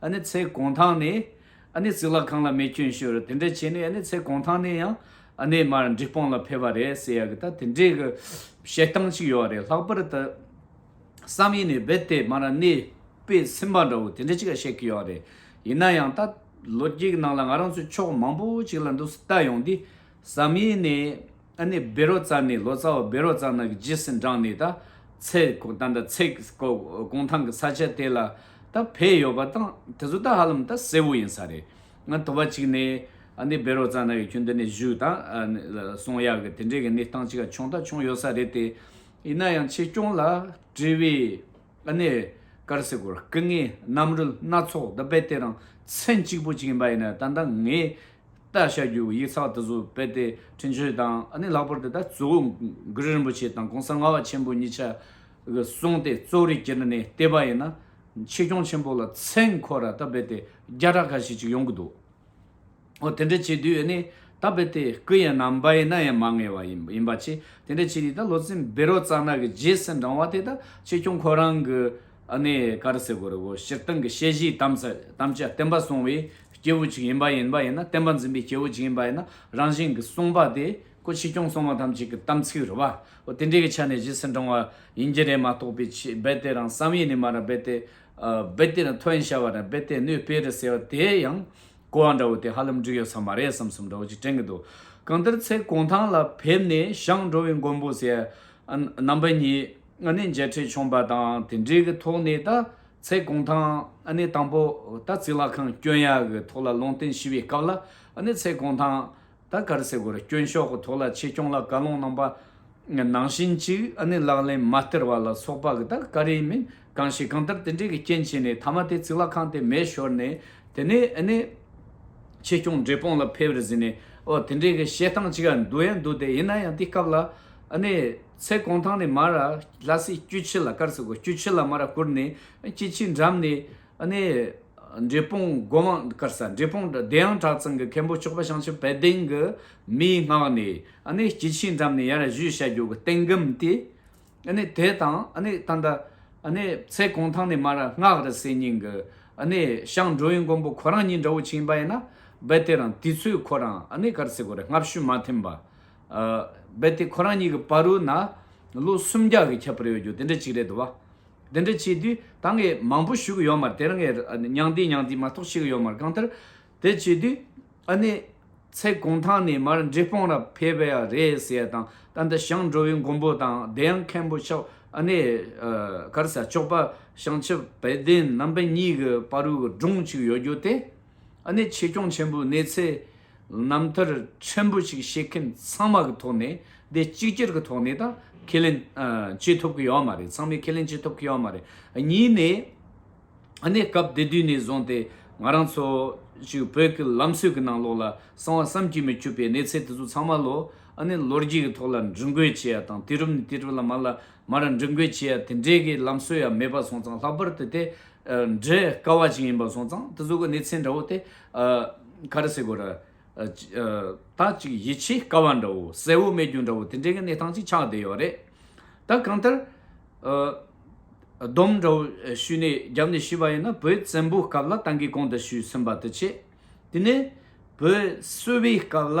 ཨ་ནི་ཚེ་གང་ཐང་ནས་ཨ་ནི་ཙིག་ལ་ཁང་ལ་མེ་སྐྱོན་ཞུ་རུ་དེ་འདྲས་བྱས་ནས་ཨ་ནི་ཚེ་གང་ཐང་ནས་ཡང་ཨ་ནི་མར་འགྲིག་སྤང་ལ་ཕེབས་པ་རེད་ཟེར་ཡག་གི་ད་དེ་འདྲས་གི་བཤད་སྟངས་ཅིག་ཡོད་རེད་ལྷག་པར་དུ་བསམ་ཡས་ནས་རྦད་དེ་མར་ཨ་ནི་པས་ཚིམ་པ་འདྲ་བོ་དེ་འདྲས་ཅིག་བཤད་གི་ཡོད་རེད་ཡིན་ན་ཡང་ད་ལོ་རྒྱུགས་ནང་ལ་ང་རང་ཚོའི་ཕྱོགས་མང་པོ་ཅིག་ལ་འདུག་སྟ་ཡོང་དུས་བསམ་ཡས་ནས། ཨ་ནི་བེ་རོ་ཙར་ནི་ལོ་ཙཱ་བ་བེ་རོ་ཙར་ནག་གི་རྗེས་སུ་འབྲངས་ནས་ད་ཚེ་དང་ད་ཚེ་གུང་ཐང་གི་ས་ཆ་དེ་ལ་ད་བས་ཡོད་པ་དང་དེ་ཚོ་ད་ཧ་ལམ་ད་གསལ་བོ་ཡིན་ས་རེད། ང་དོ་བ་གཅིག་ནས་ཨ་ནི་བེ་རོ་ཙར་ནག་གི་ཁྱོན་དེ་ནས་བཞུགས་དང་སོང་ཡག་གི་དེ་འདྲའི་གི་གནས་སྟངས་གཅིག་ཀྱང་བྱུང་ད་བྱུང་ཡོད་ས་རེད་དེ། ཡིན་ན་ཡང་ཆེ་སྐྱོང་ལ་དྲི་བའི། ཨ་ནེ། ཀར་སེ་གོར་སྐུ་ངལ་རྣམ་རོལ་སྣ་ཚོགས་འདི་དཔེ་དེ་རང་མཚན་གཅིག་པོ་གཅིག་ཡིན་པ་ཡིན་ན་ད་ལྟ་ངས་ལྟ་བྱ་རྒྱུ་ཡིག་ཚགས་དེ་ཚོ་དཔེ་དེ་བྲིན་ཆོས་དང་ཨ་ནེ་ལྷག་པར་དུ་ད་གཙོ་བོ་མགུར་རིན་པོ་ཆེ་དང་གོང་ས་ལྔ་བ་ཆེན་པོ་གཉིས་ཆ་གསུངས་ཏེ་གཙོ་རིག་གྱེར་ནས་བལྟས་པ་ཡིན་ན་ཆེ་སྐྱོང་ཆེན་པོ་ལ་མཚན་འཁོར་ར་ད་དཔེ་དེ་བརྒྱ་ཕྲག་འགའ་ཞིག་ཅིག་ཡོང་གི་འདུག། དེ་འདྲ་བྱེད་དུས་ནི་ད་བལ་དེ་སྐུ་ཡན་ནམ་བ་ཡན་ན་ཡང་མ་ངེས་བ་ཡིན་པ་ཆེ་དེ་འདྲ་བྱེད་དུས་ད་ལོ་ཚན་བེ་རོ་གཙང་ནག་གི་རྗེས་སུ་འབྲང་བ་དེ་ད་ཆོས་སྐྱོང་ཁོ་རང་གི་ནི་ཀ་ར་སེ་གོ་རི་བོ་སྤྱིར་བཏང་གི་དཔྱད་གཞིའི་དམ་བཅའ་བསྟན་པ་སྲུང་བའི་སྐྱེས་བུ་གཅིག་ཡིན་པ་ཡིན་པ་ཡིན་ན་བསྟན་པ་འཛིན་པའི་སྐྱེས་བུ་གཅིག་ཡིན་པ་ཡིན་ན་རང་བཞིན་གྱི་གསུངས་པ་དེ་ཀོ་ཆོས་སྐྱོང་སྲུང་བ་ཐམས་ཅད་ཀྱི་དམ་ཚིག་རུ་བ་དེ་འདྲའི་གི་ཆ་ནས་རྗེས་སུ་འབྲང་བ་ཡིན་གྱི་རེད་མ་གཏོགས་བལ་དེ་རང་བསམ་ཡས་ནི་མ་ར་བལ་དེ་རྦད་དེ་ནི་ཐོན་བྱ་བ་དང་རྦད་དེ་ནུས་སྤེལ་རེད་ཟེར་བ་དེ་ཡང་གོ་བ་འདྲ་བོ་དེ་ཧ་ལམ་འགྲིག་ཡོད་ས་མ་རེད་བསམ་བསམ་འདྲ་བོ་ཅིག་དྲན་གྱི་འདུག་གང་ལྟར་ཚེ་གུང་ཐང་ལ་ཕེབས་ནས་ཞང་འགྲོ་བའི་མགོན་པོ་ཟེར་རྣམ་པ་གཉིས་ནི་མཇལ་འཕྲད་བྱུང་པ་དང་དེ་འབྲེལ་གྱི་ཐོག་ནས་ད་ཚེ་གུང་ཐང་ནི་དང་པོ་ད་ཚིག་ལྷ་ཁང་སྐྱོན་ཡག་གི་ཐོག་ལ་ལུང་བསྟན་ཞུས་པའི་སྐབས་ལ་ཚེ་གུང་ཐང་ད་གར་སའི་གོ་རེ་སྐྱོན་ཤོག་གི་ཐོག་ལ་ཆེད་སྐྱོང་ལ་བཀའ་སློང་གནང་པ། ནང་བཞིན་ཅིག་ཨ་ནི་ལག་ལེན་མ་སྟེར་བ་ལ་སོགས་པ་གི་ད་ག་རེ་མིན་གང་ཞིག་གང་ལྟར་དེ་འདྲའི་གི་རྐྱེན་བྱས་ནས་ཐ་མ་དེ་ཚིག་ལ་ཁང་དེ་མེད་ཤོར་ནས་དེ་ནས་ཨ་ནི་ཆེད་སྐྱོང་བགྲེས་སྤོང་ལ་ཕེབས་རེ་ཟིན་ནས་ཨོ་དེ་འདྲའི་གི་བཤད་སྟངས་ཅིག་འདུག་ཡ་འདུག་དེ་ཡིན་ན་ཡང་དེ་སྐབས་ལ་ཨ་ནི་ཚེ་གོང་ཐང་ནས་མར་ལྷ་སའི་སྐྱུ་ཆི་ལ་གར་སའི་གོ་སྐྱུ་ཆི་ལ་མར་བསྐུར་ནས་སྐྱི་ཆི་འགྲམ་ནས། ནས། འབྲས་སྤུངས་སྒོ་མང་དཀར་ས་འབྲས་སྤུངས་བདེ་ཡངས་བྲག་ཚང་གི་མཁན་པོ་མཆོག་པ་བྱང་ཆུབ་དཔལ་ལྡན་གྱི་མིའི་སྔགས་ནས། སྐྱེ་འཆིའི་འགྲམ་ནས་ཡར་བཞུད་བྱ་རྒྱུ་གི་རྟེན་སྒམ་དེ། དེ་དང། ད་ལྟ། ཚེ་གང་ཐང་ནས་མ་ར་སྔགས་རི་སེར་སྙིང་གི། ཤངས་འགྲོ་བའི་མགོན་པོ་ཁོ་རང་ཉིད་འདྲ་བོ་ཕྱིན་པ་ཡིན་ན། རྦད་དེ་རང་དུས་ཚོད་ཁོ་རང་གར་སེ་གོ་རེ་སྔ་བཤུས་མ་ཐིམ་པ། རྦད་དེ་ཁོ་རང་ཉིད་ཀྱི་བ་རུ་ན་ལོ་སུམ་བརྒྱ་གི་ཁྱད་པར་ཡོད་རྒྱུ་དེ་འདྲ་གཅིག་རེད་དོ་བ། འདི་འདྲ་བྱས་དུས་ད་ངས་མང་པོ་ཞུ་གི་ཡོད་མར་དེར་ངས་མྱང་འདས་མྱང་འདས་མ་གཏོགས་བྱེད་ཀྱི་ཡོད་མར་གང་ལྟར་དེ་བྱས་དུས་ཨ་ནེ། ཚེ་གང་ཐང་ནས་མར་འབྲི་སྤང་ར་ཕེབས་པ་ཡ་རེད་ཟེར་དང་ད་ལྟ་ཞང་འགྲོ་བའི་མགོན་པོ་དང་བདེ་ཡངས་མཁན་པོ་ཆོག་ཨ་ནེ། གར་ས་ལྕོག་པ་ཞང་ཆུ་བེད་ལྡན་རྣམ་པ་གཉིས་ཀྱི་དཔའ་རུའི་སྒྲུང་གཅིག་ཡོད་རྒྱུ་དེ། གནད་ཆེ་སྐྱོང་ཆེན་པོའི་གནས་ཚད་རྣམ་ཐར་ཕྲན་བུ་ཞིག་བཤད་མཁན་ཚང་མ་གི་ཐོག་ནས་དེ་གཅིག་གྱུར་གི་ཐོག་ནས་དང་ཁས་ལེན་བྱེད་ཐུབ་ཀྱི་ཡོད་མ་རེད་ཚང་མས་ཁས་ལེན་བྱེད་ཐུབ་ཀྱི་ཡོད་མ་རེད་གཉིས་ནས་གནས་སྐབས་དེ་དུས་ནས་བཟུང་སྟེ་ང་རང་ཚོ་ཞིག་བོད་ཀྱི་ལམ་སྲོལ་གྱི་ནང་ལོགས་ལ་གསང་བ་བསམ་གྱིས་མི་ཁྱུད་པའི་གནས་ཚད་དེ་ཚོ་ཚང་མ་ལོ་གནས་ལོ་རྒྱས་ཀྱི་ཐོག་ལ་འབྲི་འགོད་བྱེད་ཡ་དང་དུས་རབས་ནས་དུས་རབས་ལ་མར་ལ་མར་འབྲི་འགོད་བྱེད་ཡ་དེ་འདྲའི་གི་ལམ་སྲོལ་ཡང་མེད་པ་སོང་ཙང་ལྷག་པར་དུ་དེ་འབྲི་དཀའ་བ་ཞིག་ཡིན་པ་སོང་ཙང་དེ་ཚོ་གི་གནས་ཚད་འདྲ་བོ་སྟེ། ག་རེ་ཟེར་དགོས་ར། ད་ཅིག་ཡིད་ཆེས་དཀའ་བ་འདྲ་བོ་གསལ་བོ་མེད་རྒྱུ་འདྲ་བོ་དེ་འདྲའི་གི་གནས་སྟངས་ཅིག་ཆགས་བསྡད་ཡོད་རེད། ད་གང་ལྟར། སྡོམ་འདྲ་བོ་ཞུས་ནས་རྒྱབ་ནས་ཞུས་པ་ཡིན་ན་བོད་བཙན་པོའི་སྐབས་ལ་ཏང་གིས་གོང་དུ་ཞུས་ཟིན་པ་དེ་ཆེད་དེ་ནས་བོད་གསོ་བའི་སྐབས་ལ།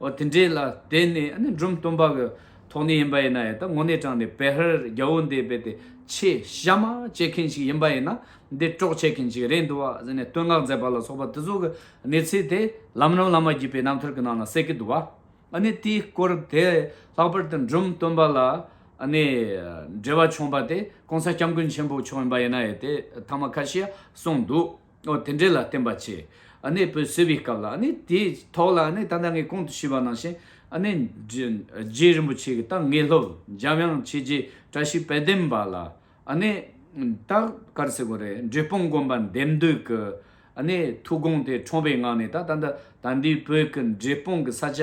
འོ་དེ་འདྲའི་ལ་དེ་ནི་འབྲུམ་སྟོང་པ་གི་ཐོག་ནས་ཡིན་པ་ཡིན་ན་ཡང་ད་ངོ་ནས་དྲངས་ནས་བེ་ཧར་རྒྱ་བོ་འདི་རྦད་དེ་ཆེ་གཤའ་མ་བྱེད་མཁན་ཞིག་ཡིན་པ་ཡིན་ན་འདི་དཀྲོག་བྱེད་མཁན་ཞིག་རེད་འདུག་བ་ཟེར་ནས་བསྟོད་བསྔགས་མཛད་པ་ལ་སོགས་པ་དེ་ཚོ་གི་གནས་ཚུལ་དེ་ལམ་རིམ་ལ་མ་བརྒྱུད་པའི་རྣམ་ཐར་གི་ནང་ན་གསལ་གི་འདུག་བ་ཨཱ་དེའི་སྐོར་དེ་ལྷག་པར་དུ་འབྲུམ་སྟོན་པ་ལ་འབྲེལ་བ་བྱུང་བ་དེ ྋགོང་ས་སྐྱབས་མགོན་ཆེན་པོ་མཆོག་ཡིན་པ་ཡིན་ན་ཡང་དེ་ཐ་མ་ཁ་ཤས་གསུངས་འདུག། ཨོ་དེ་འདྲས་ལ་བརྟེན་པ་ཆེ། ཨ་ནེ་བུ་བསོད་པའི་སྐབས་ལ་ཨ་ནེ་དེའི་ཐོག་ལ་ཨ་ནེ་ད་ལྟ་ངས་གོང་དུ་ཞུས་པ་ནང་བཞིན་ཨ་ནེ། རྗེ་རིན་པོ་ཆེ་གི་ཏང་ངེ་སློབ་འཇམ་དབྱངས་ཆོས་རྗེ་བཀྲ་ཤིས་དཔལ་ལྡན་པ་ལ་ཨ་ནེ། རྟག་དཀར་སེ་གོ་རེ་འབྲས་སྤུངས་དགོན་པ་འདེམས་སྡོད་ཀྱི་ཨ་ནེ་ཐུགས་དགོངས་དེ་ཁྲོངས་པའི་ངང་ནས་ད་ལྟ་ད་ལྟ་དཱ་འདིའི་བོད་ཀྱི་འབྲས་སྤུངས་ཀྱི་ས་ཆ།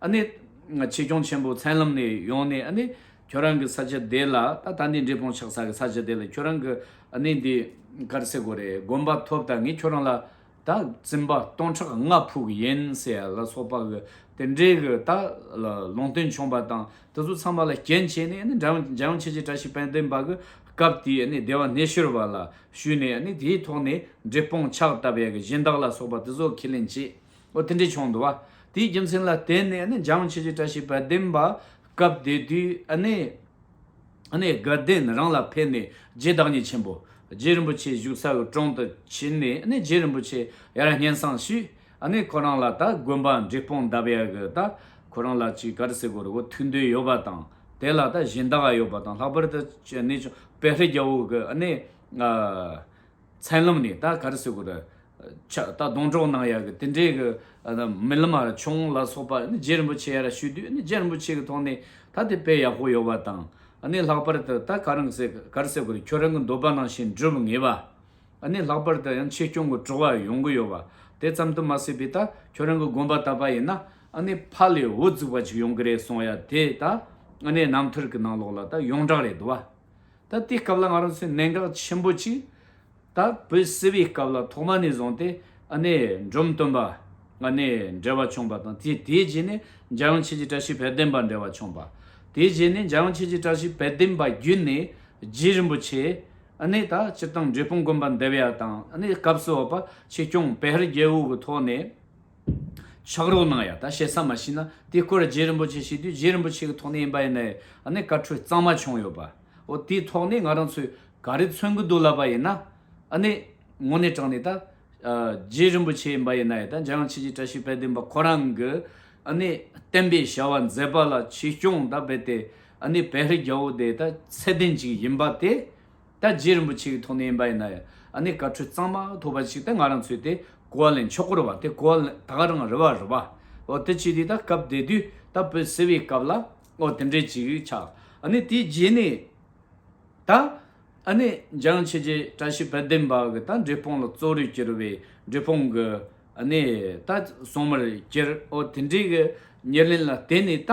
ཨ་ནི། ཆེ་སྐྱོང་ཆེན་པོ་མཚན་ལམ་ནས་ཡོང་ནས་ཨ་ནི། ཁྱོད་རང་གི་ས་ཆ་དེ་ལ་ད་ད་ནི་འབྲས་སྤུངས་ཆགས་ས་གི་ས་ཆ་དེ་ལ་ཁྱོད་རང་གི་ཨ་ནི་འདི་གར་སེ་གོ་རེ་དགོན་པ་ཐོབ་ད་ངས་ཁྱོད་རང་ལ་ད་བཙུན་པ་སྟོང་ཕྲག་ལྔ་ཕུག་གི་ཡན་སེ་ཡ་ལ་སོགས་པ་གི་དེ་འདྲའི་གི་ད་ལ་ལུང་སྟོན་ཆོངས་པ་དང་དེ་ཚོ་ཚང་པ་ལ་རྐྱེན་བྱས་ནས་ཨ་ནི་འཇའ་ཡང་ཆེ་ཆེ་བཀྲ་ཤིས་དཔལ་ལྡན་པ་གི་སྐབས་དེའི་ཨ་ནི་སྡེ་བ་སྣེ་ཤོར་བ་ལ་ཞུས་ནས་ཨ་ནི་དེའི་ཐོག་ནས་འབྲས་སྤུངས་ཆགས་ད་བས་གི་གཞན་དག་ལ་སོགས་པ་དེ་ཚོ་ཁས་ལེན་བྱས། འོ་དེ་འདྲའི་ཆུང་དུ་བ། དེའི་རྒྱུ་མཚན་ལ་བརྟེན་ནས་ནི་འཇམ་ཕྱི་བྱེད་བཀྲ་ཤིས་པའི་བདེན་པ་སྐབས་དེ་དུས་ནི། ནི་དགའ་ལྡན་རང་ལ་ཕེབས་ནས་རྗེ་བདག་ཉིད་ཆེན་པོ། རྗེ་རིན་པོ་ཆེ་བཞུགས་ས་དབུས་གྲོང་དུ་ཕྱིན་ནས་ནི་རྗེ་རིན་པོ་ཆེ་ཡར་སྙན་བསང་ཞུས། ནི་ཁོ་རང་ལ་ད་དགོན་པ་འབྲི་སྤུངས་འདབ་ཡར་གྱི་ད་ཁོ་རང་ལ་ཅིག་གར་སེ་གོར་གོར་ཐུགས་འདོད་ཡོད་པ་དང་དེ་ལ་ད་གཞན་དག་ཡོད་པ་དང་ལྷག་པར་དུ་ནི་ཅུང་བེ་ཧྲི་རྒྱལ་བོ་གི་ནི། མཚན་ལམ་ནས་ད་གར་སོས་གོ་ད། ཆགས་ད་སྡོང་གྲོགས་གནང་ཡག་གི་དེ་འདྲའི་གི། རྨི་ལམ་མ་ར་ཆུང་ལ་སོགས་པ་ནི་རྗེ་རིན་པོ་ཆེ་ཡ་ར་ཞུས་དུས་ནི་རྗེ་རིན་པོ་ཆེ་གི་ཐོག་ནས་ད་དེ་དཔེ་ཡག་པོ་ཡོད་པ་དང། ནི་ལྷག་པར་དུ་ད་ག་རང་སོས་གར་སོས་གོ་ད་ཁྱོད་རང་གི་འདོད་པ་ནང་བཞིན་འགྲུབ་ངེས་པ། ནི་ལྷག་པར་དུ་ཡང་ཆེ་སྐྱོང་གི་བྲོ་བ་ཡོང་གི་ཡོད་པ་དེ་ཙམ་དུ་མ་སོས་པའི་ད་ཁྱོད་རང་གི་དགོན་པ་ད་པ་ཡིན་ན། ནི་ཕ་ལས་བུ་བཙུགས་པ་ཅིག་ཡོང་གི་རེད་སོང་ཡ་དེ་ད། ནི་རྣམ་ཐར་གི་ནང་ལོགས་ལ་ད་ཡོངས་གྲགས་རེད་དུ་བ། ད་དེའི་སྐབས་ལ་ང་རང་ཚོས་གནད་འགག་ཆེན་པོ་གཅིག་ད་བོད་སེལ་བའི་སྐབས་ལ་ཐོག་མ་ནས་བཟུང་སྟེ་ཨ་ནེ་འབྲོམ་སྟོན་པ་ང་ནས་འབྲེལ་བ་བྱུང་པ་དང་དེ་དེའི་རྗེས་ནས་འཇའ་ཡང་ཆེ་བྱེད་བཀྲ་ཤིས་དཔལ་ལྡན་པ་འབྲེལ་བ་བྱུང་པ། དེའི་རྗེས་ནས་འཇའ་ཡང་ཆེ་བྱེད་བཀྲ་ཤིས་དཔལ་ལྡན་པ་བརྒྱུད་ནས་རྗེ་རིན་པོ་ཆེ་ཨ་ནེ་ད་སྤྱིར་བཏང་འབྲས་སྤུངས་དགོན་པ་འདེབས་ཡ་དང་ཨ་ནེ་སྐབས་སུ་འོག་པ་ཆེ་སྐྱོང་བེ་ཧར་རྒྱལ་བོ་གི་ཐོག་ནས། ཕྱག་རོགས་གནང་ཡ་ད་བྱེད་ས་མ་ཤི་ན་དེ་སྐོར་རྗེ་རིན་པོ་ཆེ་ཤི་དུས་རྗེ་རིན་པོ་ཆེ་གི་ཐོག་ནས་ཡིན་པ་ཡིན་ནའི་ནས་བཀའ་འཁྲོལ་གཙང་མ་བྱུང་ཡོད་པའོ་དེའི་ཐོག་ནས་ང་རང་ཚོས་ག་རེ་མཚོན་གི་འདུག་ལབ་པ་ཡིན་ན་ནས་ངོ་ནས་དྲང་ནས་ད་རྗེ་རིན་པོ་ཆེ་ཡིན་པ་ཡིན་ནའི་ད་འཇམ་དབྱངས་ཆོས་རྗེ་བཀྲ་ཤིས་དཔལ་ལྡན་པ་ཁོ་རང་གི་ནས་བསྟན་པའི་བྱ་བ་མཛད་པ་ལ་ཆོས་སྐྱོང་ད་བས་ཏེ་ནས་བལ་རི་རྒྱ་བོ་དེ་ད་ཚད་ལྡན་ཅིག་ཡིན་པ་དེ། ད་རྗེ་རིན་པོ་ཆེ་གི་ཐུགས་ནན་པ་ཡིན་ན་ཡང་ཨ་ནེ་བཀའ་ཁྲོལ་གཙང་མ་ཐོབ་པ་ཞིག་ད་ང་རང་ཚོའི་དེ་གོ་བ་ལེན་མཆོག་སྐོར་བ་དེ་གོ་བ་ལེན་ད་ག་རང་རེ་བ་རེ་བ་ཨོ་དེ་ཅི་དེ་ད་སྐབས་དེ་དུས་ད་བོད་སེལ་བའི་སྐབས་ལ་ཨོ་དེ་འདྲས་ཅིག་ཆགས་ཨ་ནེ་དེའི་རྗེས་ནས་ད་ཨ་ནེ་འཇང་ཆོས་རྗེ་བཀྲ་ཤིས་དཔལ་ལྡན་པ་གི་ད་འབྲས་སྤུངས་ལ་གཙོ་རུ་གྱུར་བའི་འབྲས་སྤུངས་གི་ཨ་ནེ་ད་སྲུང་མར་གྱུར་ཨོ་དེ་འདྲས་གི་ཉེར་ལེན་ལ་བརྟེན་ནས་ད།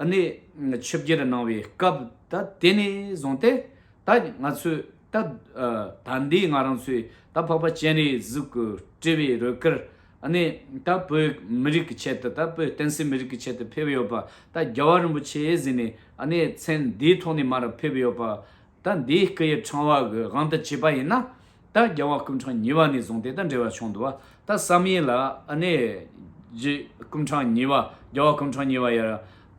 ནས་ཆིབས་བསྒྱུར་གནང་བའི་སྐབས་ད་དེ་ནས་བཟུང་སྟེ་ད་ང་ཚོས་ད་ད་འདི་ང་རང་ཚོས་ད་འཕགས་པ་སྤྱན་རས་གཟིགས་ཀྱི་དཀྲི་བའི་རོལ་གར་ནི་ད་བོད་མི་རིགས་ཀྱི་ཆེད་དུ་ད་བོད་བསྟན་སྲིད་མི་རིགས་ཀྱི་ཆེད་དུ་ཕེབས་ཡོད་པ་ད་རྒྱལ་བ་རིན་པོ་ཆེ་ཟིན་ནས་ནས་མཚན་འདིའི་ཐོག་ནས་མར་ཕེབས་ཡོད་པ་ད་འདིའི་སྐུ་ཡི་ཕྲེང་བ་གི་དབང་དུ་བྱས་པ་ཡིན་ན། ད་རྒྱལ་བ་སྐུ་འཕྲང་ཉིས་བ་ནས་བཟུང་དེ་ལྟར་འབྲེལ་བ་བྱུང་འདུག་ད་བསམ་ཡས་ལ་ཨ་ནེ་རྗེ་སྐུ་འཕྲང་ཉིས་བ་རྒྱལ་བ་སྐུ་འཕྲང་ཉིས་བ་ཡར་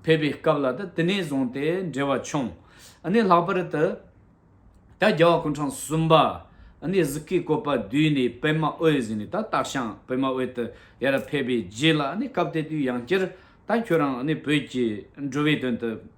ཕེབས་པའི་སྐབས་ལ་ད་དེ་ནས་བཟུང་དེ་འབྲེལ་བ་བྱུང། ཨ་ནེ་ལྷག་པར་དུ་ད་རྒྱལ་བ་སྐུ་འཕྲང་གསུམ་པ་ཨ་ནེ་གཟུགས་ཀྱི་བཀོད་པ་བསྡུས་ནས་པདྨ་འོད་བཟི་ནས་ད་སྟག་ཤང་པདྨ་འོད་དུ་ཡར་ཕེབས་པའི་རྗེས་ལ་ཨ་ནེ་སྐབས་དེ་དུས་ཡང་བསྐྱར་ད་ཁྱོད་རང་ཨ་ནེ་བོད་ཀྱི་འགྲོ་བའི་དོན་དུ།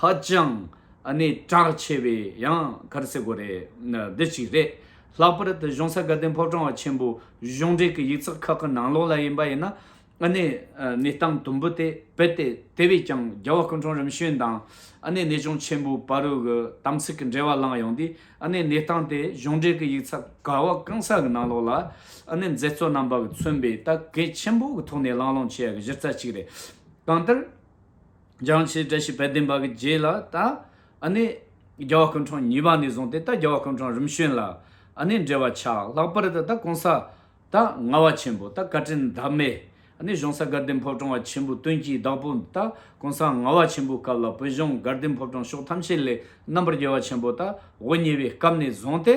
ཧ་ཅང་ནས་གྲགས་ཆེ་བའི་ཡང་གར་སའི་སྒོ་རེད་འདི་གཅིག་རེད། ལྷག་པར་དུ་གཞུང་ས་དགའ་ལྡན་ཕོ་བྲང་བ་ཆེན་པོའི་གཞུང་འབྲེལ་གྱི་ཡིག་ཚགས་ཁག་གི་ནང་ལོགས་ལ་ཡིན་པ་ཡིན་ན་ནས་གནས་སྟངས་དུམ་བུ་དེ་བེད་དེ་དེ་བས་ཀྱང་རྒྱལ་བ་སྐུ་འཁྲུངས་རིམ་བྱོན་དང་ནས་གནས་གཞུང་ཆེན་པོའི་བ་རུ་གི་དམ་ཚིག་གི་འབྲེལ་བ་བླངས་ཡོང་དུས་ནས་གནས་སྟངས་དེ་གཞུང་འབྲེལ་གྱི་ཡིག་ཚགས་ག་བ་གང་ས་གི་ནང་ལོགས་ལ་ནས་མཛད་གཙོ་རྣམ་པ་གི་མཚོན་པའི་ལྟ་གས་ཆེན་པོ་གི་ཐོག་ནས་བླངས་བླངས་བྱས་ཡ་གི་གཞི་རྩ་གཅིག་རེད། གང་ལྟར། སྦྱང་བྱའི་བཀྲ་ཤིས་དཔལ་ལྡན་པ་གི་རྗེས་ལ་ད་ནི་རྒྱལ་བ་སྐུ་འཕྲང་གཉིས་པ་ནས་བཟུང་སྟེ་ད་རྒྱལ་བ་སྐུ་འཕྲང་རིམ་བྱོན་ལ་ནི་འབྲེལ་བ་ཆགས་ལྷག་པར་དུ་ད་གོང་ས་ད་རྔ་བ་ཆེན་པོ་ད་བཀའ་དྲིན་བདག་མེད་ནི་གཞུང་ས་དགའ་ལྡན་ཕོ་བྲང་བ་ཆེན་པོའི་དོན་གྱི་བདག་པོ་ད་གོང་ས་རྔ་བ་ཆེན་པོའི་སྐབས་ལ་བོད་གཞུང་དགའ་ལྡན་ཕོ་བྲང་ཕྱོགས་ཐམས་ཅད་ལས་རྣམ་པར་རྒྱལ་བ་ཆེན་པོ་ད་འོ་ཉེ་བའི་སྐབས་ནས་བཟུང་སྟེ།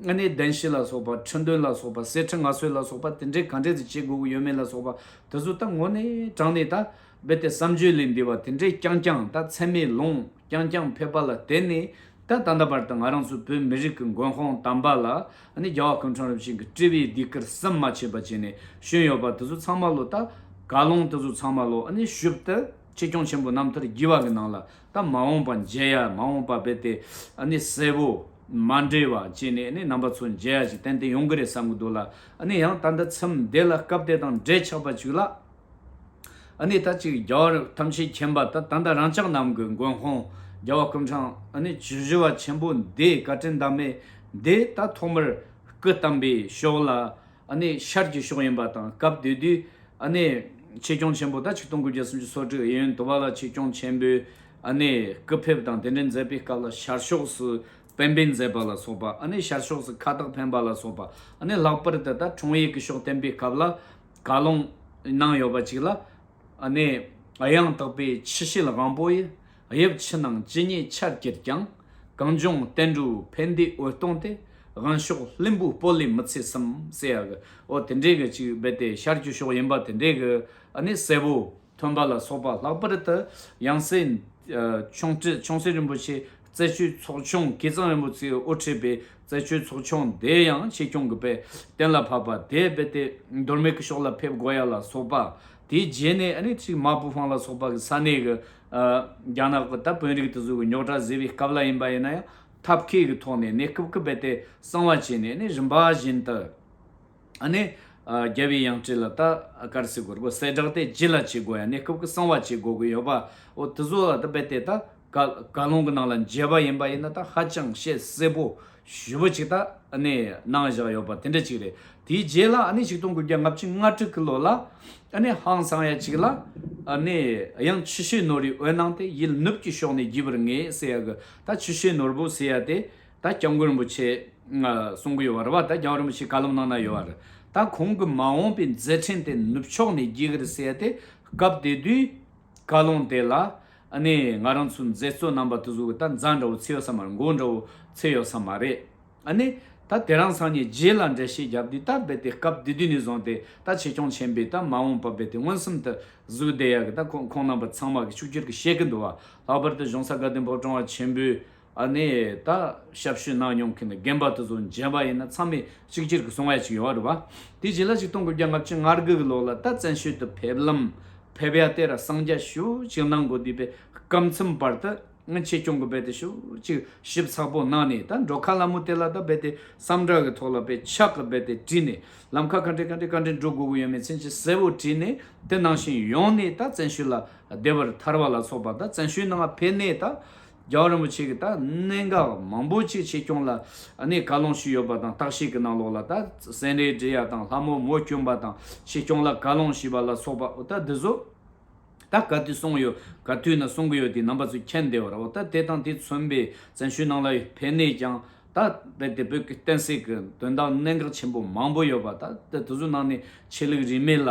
ལྔ་གནས་བདེན་བཞི་ལ་སོགས་པ་འཕྲོས་འདོན་ལ་སོགས་པ་གསལ་འཕྲེང་ལྔ་སྲོལ་ལ་སོགས་པ་དེ་འདྲའི་གང་འབྲས་དུ་བྱེད་དགོས་ཀྱི་ཡོད་མེད་ལ་སོགས་པ་དེ་ཚོ་ད་ངོ་ནས་དྲངས་ནས་ད་རྦད་དེ་བསམ་བརྗོད་ལས་འདས་པ་དེ་འདྲས་རྐྱང་རྐྱང་ད་ཚད་མེད་ལོང་རྐྱང་རྐྱང་ཕེབས་པ་ལ་བརྟེན་ནས་ད་ད་ལྟ་བར་དུ་ང་རང་ཚོ་བོད་མི་རིགས་ཀྱི་མགོན་དཔང་དམ་པ་ལ་ནི་རྒྱལ་བ་ཀུན་འཕྲང་རབ་བྱུང་གི་བཀྲིས་པའི་སྡིགས་ཀར་སེམས་མ་ཆད་པ་བྱས་ནས་བཞོན་ཡོད་པ་དེ་ཚོ་ཚང་མ་ལོ་ད་ག་ལོང་དེ་ཚོ་ཚང་མ་ལོ་ནི་ཞུབ་ཏུ་ཆེ་སྐྱོང་ཆེན་པོ་རྣམ་ཐར་བགྱི་བ་གི་ནང་ལ་དང་མ་འོངས་པ་མཇལ་ཡ་མ་འོངས་པ་བས་དེ་ནི་གསལ་བོ། མ་འདྲེས་བ་བཅས་ནས་ནི་རྣམ་པ་ཚོ་མཇལ་ཡ་ཞིག་ཏན་ཏན་ཡོང་གི་རེད་བསམ་གི་འདུག་ལ་ནི་ཡང་ད་ལྟ་ཚེམ་བདེ་ལ་སྐབས་དེ་དང་འབྲེལ་ཆགས་པ་ཅིག་ལ་ནི་ད་ཅིག་རྒྱ་བར་ཐམས་ཅད་མཁྱེན་པ་ད་ད་ལྟ་རང་ཅག་རྣམས་ཀྱི་མགོན་ཁོང་རྒྱལ་བ་ཀུན་འཕྲང་ནི་ཇི་བཞི་བ་ཆེན་པོ་འདིའི་བཀའ་དྲིན་ཟླ་མེད་འདི་ད་ཐོག་མར་སྐུ་བལྟམས་པའི་ཤོག་ལ་ཤར་གྱི་ཕྱོགས་ཡིན་པ་དང་སྐབས་དེ་དུས་ཆེད་སྐྱོང་ཆེན་པོ་དག་ཆིག་སྟོང་དགུ་བརྒྱ་སུམ་ཅུ་སོ་དྲུག་ཨེ་ཡོན་དུ་བ་ལ་ཆིག་སྐྱོང་ཆེན་པོའི་སྐུ་ཕེབས་དང་དེ་འབྲེལ་མཛད་པའི་སྐབས་ལ་ཤར་ཕྱོགས་སུ་བན་བོན་མཛད་པ་ལ་སོགས་པ་ཤར་ཕྱོགས་སུ་ཁ་བཏགས་འཕེན་པ་ལ་སོགས་པ་ལྷག་པར་དུ་ད་འཕྲོང་ཡིག་གི་ཕྱོགས་བསྟན་པའི་སྐབས་ལ་བཀའ་ལུང་གནང་ཡོད་པ་ཅིག་ལ། ཡང་དག་པའི་ཕྱི་བཤོལ་དབང་པོ་ཡི། དབྱིབས་ཕྱི་ནང་ཇི་སྙེད་ཆར་གྱིས་ཀྱང། གངས་ལྗོངས་བསྟན་འགྲོའི་ཕན་བདེའི་འོད་སྟོང་སྟེ། དབང་ཕྱོགས་ལྷུན་པོའི་སྤོ་ལེ་མི་ཚེ་གསུམ། ཟེར་ཡག་གི། ཨོ་དེ་འདྲའི་གི་ཅིག་རྦད་དེ་ཤར་རྒྱུ་ཤོག་ཡིན་པ་དེ་འདྲའི་གི། ཨ་ནི་གསལ་བོ། ཐོན་པ་ལ་སོགས་པ་ལྷག་པར་དུ། ཡང་སྲིད། ཆུང་ཁྲི་ཆུང་སྲིད་རིན་པོ་ཆེ། རྩེ་ཆུའི་ཚོགས་ཆུང་སྐལ་བཟང་རིན་པོ་ཚེའི་དབུ་ཁྲིད་པའི་རྩེ་ཆུའི་ཚོགས་ཆུང་དེ་ཡང་ཆེ་ཆུང་གི་པའི་གཏན་ལ་ཕབ་པ་དེ་རྦད་དེ་འདོར་མེད་ཀི་ཤོག་ལ་ཕེབས་དགོས་ཡ་ལ་སོགས་པ། དེའི་རྗེས་ནས་ཨ་ནི་ཅིག་མ་བུ་ཧྥང་ལ་སོགས་པ་གི་ས་གནས་གི་རྒྱ་ནག་གི་ད་དཔོན་རིགས་དེ་ཚོས་གི་རྙོག་དྲ་བཟོས་པའི་སྐབས་ལ་ཡིན་པ་ཡིན་ན་ཡང་ཐབས་མཁས་ཀྱི་ཐོག་ནས་ནས་སྐུབ་སྐུབ་བེད་དེ་གསང་བ་བྱས་ནས་ནས་རིམ་པ་བཞིན་དུ་ཨ་ནི་རྒྱལ་བའི་ཡང་སྤྲེལ་ལ་ད་སྐར་ཚིག་གོར་གོར་གསལ་བསྒྲགས་དེ་ཇི་ལ་བྱེད་དགོས་ཡང་ནས་སྐུབ་སྐུབ་གསང་བ་བྱེད་དགོས་ཀྱི་ཡོད་པ་འོ་དེ་ཚོ་ལ་ད་བེད་དེ་ད་བཀའ་བཀའ་ལུང་གི་ནང་ལ་མཇལ་བ་ཡིན་པ་ཡིན་ན་ད་ཧ་ཅང་བཤད་གསལ་པོ་ཞུ་བ་ཅིག་ད་ནས་གནང་བཞག་ཡོད་པ་དེ་འདྲ་ཅིག་རེད་དེའི་རྗེས་ལ་ནས་ཆིག་སྟོང་དགུ་བརྒྱ་ལྔ་བཅུ་ང་དྲུག་གི་ལོ་ལ་ནས་ཧང་སང་ཡ་ཅིག་ལ་ནས་ཡང་ཆུ་ཤེལ་ནོར་རིག་འོད་གནང་སྟེ་ཡིད་ནུབ་ཀྱི་ཕྱོགས་ནས་བརྒྱུད་པར་ངས་ཟེར་ཡག་གི་ད་ཆུ་ཤེལ་ནོར་བུ་ཟེར་ཡག་དེ་ད་སྐྱབས་མགོན་རིན་པོ་ཆེས་གསུང་གི་ཡོད་བ་རེད་བ་ད་སྐྱབས་རིན་པོ་ཆེས་བཀའ་སློབ་གནང་ན་ཡོད་བ་རེད་ད་ཁོང་གི་མ་འོངས་པའི་མཛད་འཕྲིན་དེ་ནུབ་ཕྱོགས་ནས་རྒྱས་གི་རེད་ཟེར་ཡག་དེ་སྐབས་དེ་དུས། བཀའ་བློན་དེ་ལ་ནི་ང་རང་ཚོའི་མཛད་གཙོ་རྣམ་པ་དེ་ཚོ་གི་ད་མཛའ་འདྲ་བོ་ཚེ་ཡོད་ས་མ་རེད་མགོ་འདྲ་བོ་ཚེ་ཡོད་ས་མ་རེད་ཨ་ནི་ད་དེ་རང་སང་ཉིན་རྗེས་ལ་འགྲེལ་བཤད་བརྒྱབ་དུས་ད་རྦད་དེ་སྐབས་དེ་དུས་ནས་བཟུང་སྟེ་ད་ཆེ་ཆུང་ཆེན་པོས་ད་མ་འོངས་པ་རྦད་དེ་མངོན་སུམ་དུ་གཟུགས་བདེ་ཡག་གི་ད་ཁོང་རྣམ་པ་ཚང་མ་གི་ཕྱུག་ཅོར་གི་བཤད་གི་འདུག་བ་ལྷག་པར་དུ་གཞུང་ས་དགའ་ལྡན་ཕོ་བྲང་བ་ཆེན་པོའི་ཨ་ནེ་ད་ཞབས་ཞུ་གནང་མྱོང་མཁན་རྒན་པ་དེ་ཚོ་མཇལ་བ་ཡིན་ན་ཚང་མས་གཅིག་གྱུར་གྱི་གསུང་བ་ཞིག་ཡོང་བ་རེད་བ། དེ་རྗེས་ལ་ཆིག་སྟོང་དགུ་བརྒྱ་ལྔ་བཅུ་ང་དགུ་གི་ལོ་ལ་ད་བཙན་བྱོལ་དུ་ཕེབས་ལམ་ཕེབས་ཡ་དེ་ར་གསང་རྒྱ་ཞུ་གཅིག་གནང་དགོས་དུས་པའི་སྐམ་ཚུམ་བར་དུ་ཆེད་སྐྱོང་གི་རྦད་དེ་ཞུ་གཅིག་ཞིབ་ཚགས་པོ་གནང་ནས་ད་འགྲོ་ཁ་ལ་མོ་དེ་ལ་ད་རྦད་དེ་བསམ་དྲག་གི་ཐོག་ལ་པའི་ཕྱག་གི་རྦད་དེ་བྲིས་ནས་ལམ་ཁ་ག་འདྲེ་ག་འདྲེ་ག་འདྲེ་འགྲོ་དགོས་གི་ཡོད་མེད་ཚན་གྱི་གསལ་བོ་བྲིས་ནས་དེ་གནང་བཞིན་ཡོང་ནས་ད་བཙན་བྱོལ་ལ་བདེ་བར་ཐར་བ་ལ་སོགས་པ་ད་བཙན་བྱོལ་ནང་ང་ཕེབས་ནས་ད། རྒྱལ་བ་རིན་པོ་ཆེ་གིས་ད་གནད་འགག་མང་པོ་ཆེ་ཆེ་སྐྱོང་ལ་གནད་བཀའ་སློང་ཞུས་ཡོད་པ་དང་བརྟག་དཔྱད་ཀྱི་ནང་ལོགས་ལ་ད་སེང་རས་སྦྲེལ་ཡ་དང་ལྷ་མོ་མོ་སྐྱོན་པ་དང་ཆེ་སྐྱོང་ལ་བཀའ་སློང་ཞུས་པ་ལ་སོགས་པ་འོ་ད་འདི་ཚོ་ད་ག་དུས་གསུངས་ཡོད་ག་དུས་ན་གསུང་གི་ཡོད་དེ་རྣམ་པ་ཚོ་མཁྱེན་བདེ་བར་འོ་ད་དེ་དང་དེ་མཚོན་པའི་བཙན་ཤུལ་ནང་ལ་ཕན་ནས་ཀྱང་ད་རྦད་དེ་བོད་ཀྱི་བསྟན་སྲིད་ཀྱི་དོན་དག་གནད་འགག་ཆེན་པོ་མང་པོ་ཡོད་པ་ད་དེ་ཚོ་ནང་ནས་ཆེ་ལུགས་རིས་མེད་ལ།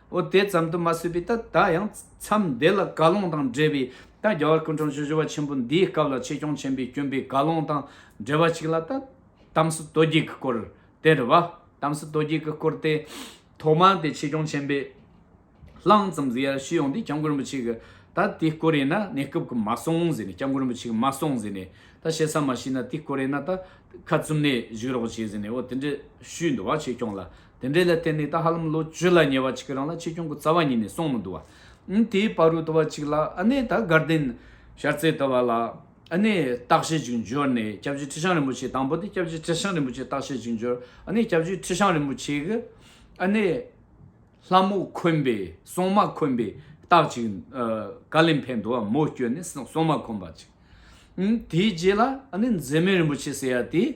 འོ་དེ་ཙམ་དུ་མ་ཟོས་པའི་ད་ལྟ་ཡང་མཚམས་འདི་ལ་དགའ་སློང་དང་འབྲེལ་བའི་ད་རྒྱ་བར་སྐུ་འཁྲུངས་བཞི་བཞི་བ་ཆེན་པོ་འདིའི་སྐབས་ལ་ཆེ་སྐྱོང་ཆེན་པོས་བསྐྱོན་པའི་དགའ་སློང་དང་འབྲེལ་བ་ཅིག་ལ་ད་དམ་སྲི་རྡོ་རྗེ་གི་སྐོར་དེར་བ་དམ་སྲི་རྡོ་རྗེ་གི་སྐོར་དེ་ཐོག་མ་དེ་ཆེ་སྐྱོང་ཆེན་པོས་ལྷང་ཙམ་ཟིག་ཡར་ཞུས་ཡོང་དུས་སྐྱབས་མགོན་རིན་པོ་ཆེ་གིས་ད་དེའི་སྐོར་ཡིན་ན་གནས་སྐབས་ཀྱི་མ་སོང་ཟེར་ནས་སྐྱབས་མགོན་རིན་པོ་ཆེ་གིས་མ་སོང་ཟེར་ནས་ད་བཤད་ས་མ་ཤེས་ན་དེའི་སྐོར་ཡིན་ན་ད་ཁ་བཙུམ་ནས་བཞུགས་རོགས་བྱས་ཟེར་ནས་འོ་དེ་འདྲ་ཞུས་འདུག་བ་ཆེ་སྐྱོང་ལ་དེ་འདྲའི་ལ་བརྟེན་ནས་ད་ཧ་ལམ་ལོ་བཅུ་ལ་ཉེ་བ་ཅིག་གི་རིང་ལ་ཆེ་ཆུང་གི་རྩ་བ་ཉིད་ནས་སོང་མི་འདུག་བ། དེའི་བར་རུ་དུ་བ་ཅིག་ལ་ཨ་ནེ་དང་དགའ་ལྡན་ཤར་རྩེའི་དུ་བ་ལ་ཨ་ནེ་རྟགས་བཞེས་ཅིག་འབྱོར་ནས་སྐྱབས་རྗེ་ཁྲི་བྱང་རིན་པོ་ཆེ་དང་པོ་དེ་སྐྱབས་རྗེ་ཁྲི་བྱང་རིན་པོ་ཆེ་རྟགས་བཞེས་ཅིག་འབྱོར་ཨ་ནེ་སྐྱབས་རྗེ་ཁྲི་བྱང་རིན་པོ་ཆེ་གི་ཨ་ནེ་ལྷ་མོ་འཁོན་པའི་སྲུང་མ་འཁོན་པའི་རྟགས་ཅིག་ཀ་ལིམ་ཕའི་འདུ་བ་མོ་བསྐྱོད་ནས་སྲུང་མ་འཁོན་པ་ཅིག་དེའི་རྗེས་ལ་ཨ་ནེ་མཛེས་མའི་རིན་པོ་ཆེ་ཟེར་ཡ་དེས་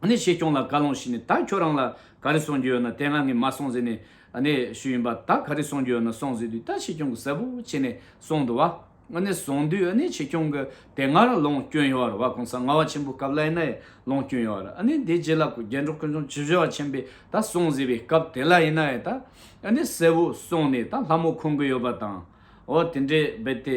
ཨ་ནི་ཆེ་ཁྱོང་ལ་བཀའ་ལུང་ཞུས་ནས་ད་ཁྱོད་རང་ལ་ག་རེ་གསུང་རྒྱུ་ཡོད་ན་དེ་ང་ངས་མ་གསུང་ཟེར་ནས་ཨ་ནི་ཞུས་ཡིན་པ་ད་ག་རེ་གསུང་རྒྱུ་ཡོད་ན་གསུང་ཟེར་དུས་ད་ཆེ་ཁྱོང་གིས་གསལ་པོ་བྱས་ནས་གསུང་འདུག་བ། ཨ་ནི་གསུང་དུས་ཨ་ནི་ཆེ་ཁྱོང་གིས་དེ་སྔ་ར་ལུང་སྐྱོན་ཡོད་ར་བ་གོང་ས་ལྔ་བ་ཆེན་པོ་སྐབས་ལ་ཨེ་ན་ཡའི་ལུང་སྐྱོན་ཡོད་ར་ཨ་ནི་དེ་རྗེས་ལ་རྒྱལ་འབྲོག་ཀུན་སྐྱོང་བྱི་བྱི་བ་ཆེན་པོས་ད་གསུང་ཟེར་བའི་སྐབས་དེ་ལ་ཨེ་ན་ཡའི་ད་ཨ་ནི་གསལ་བོ་གསུང་ནས་ད་ལྷ་མོ་ཁུང་གི་ཡོད་པ་དང་འོ་དེ་འདྲའི་རྦད་དེ།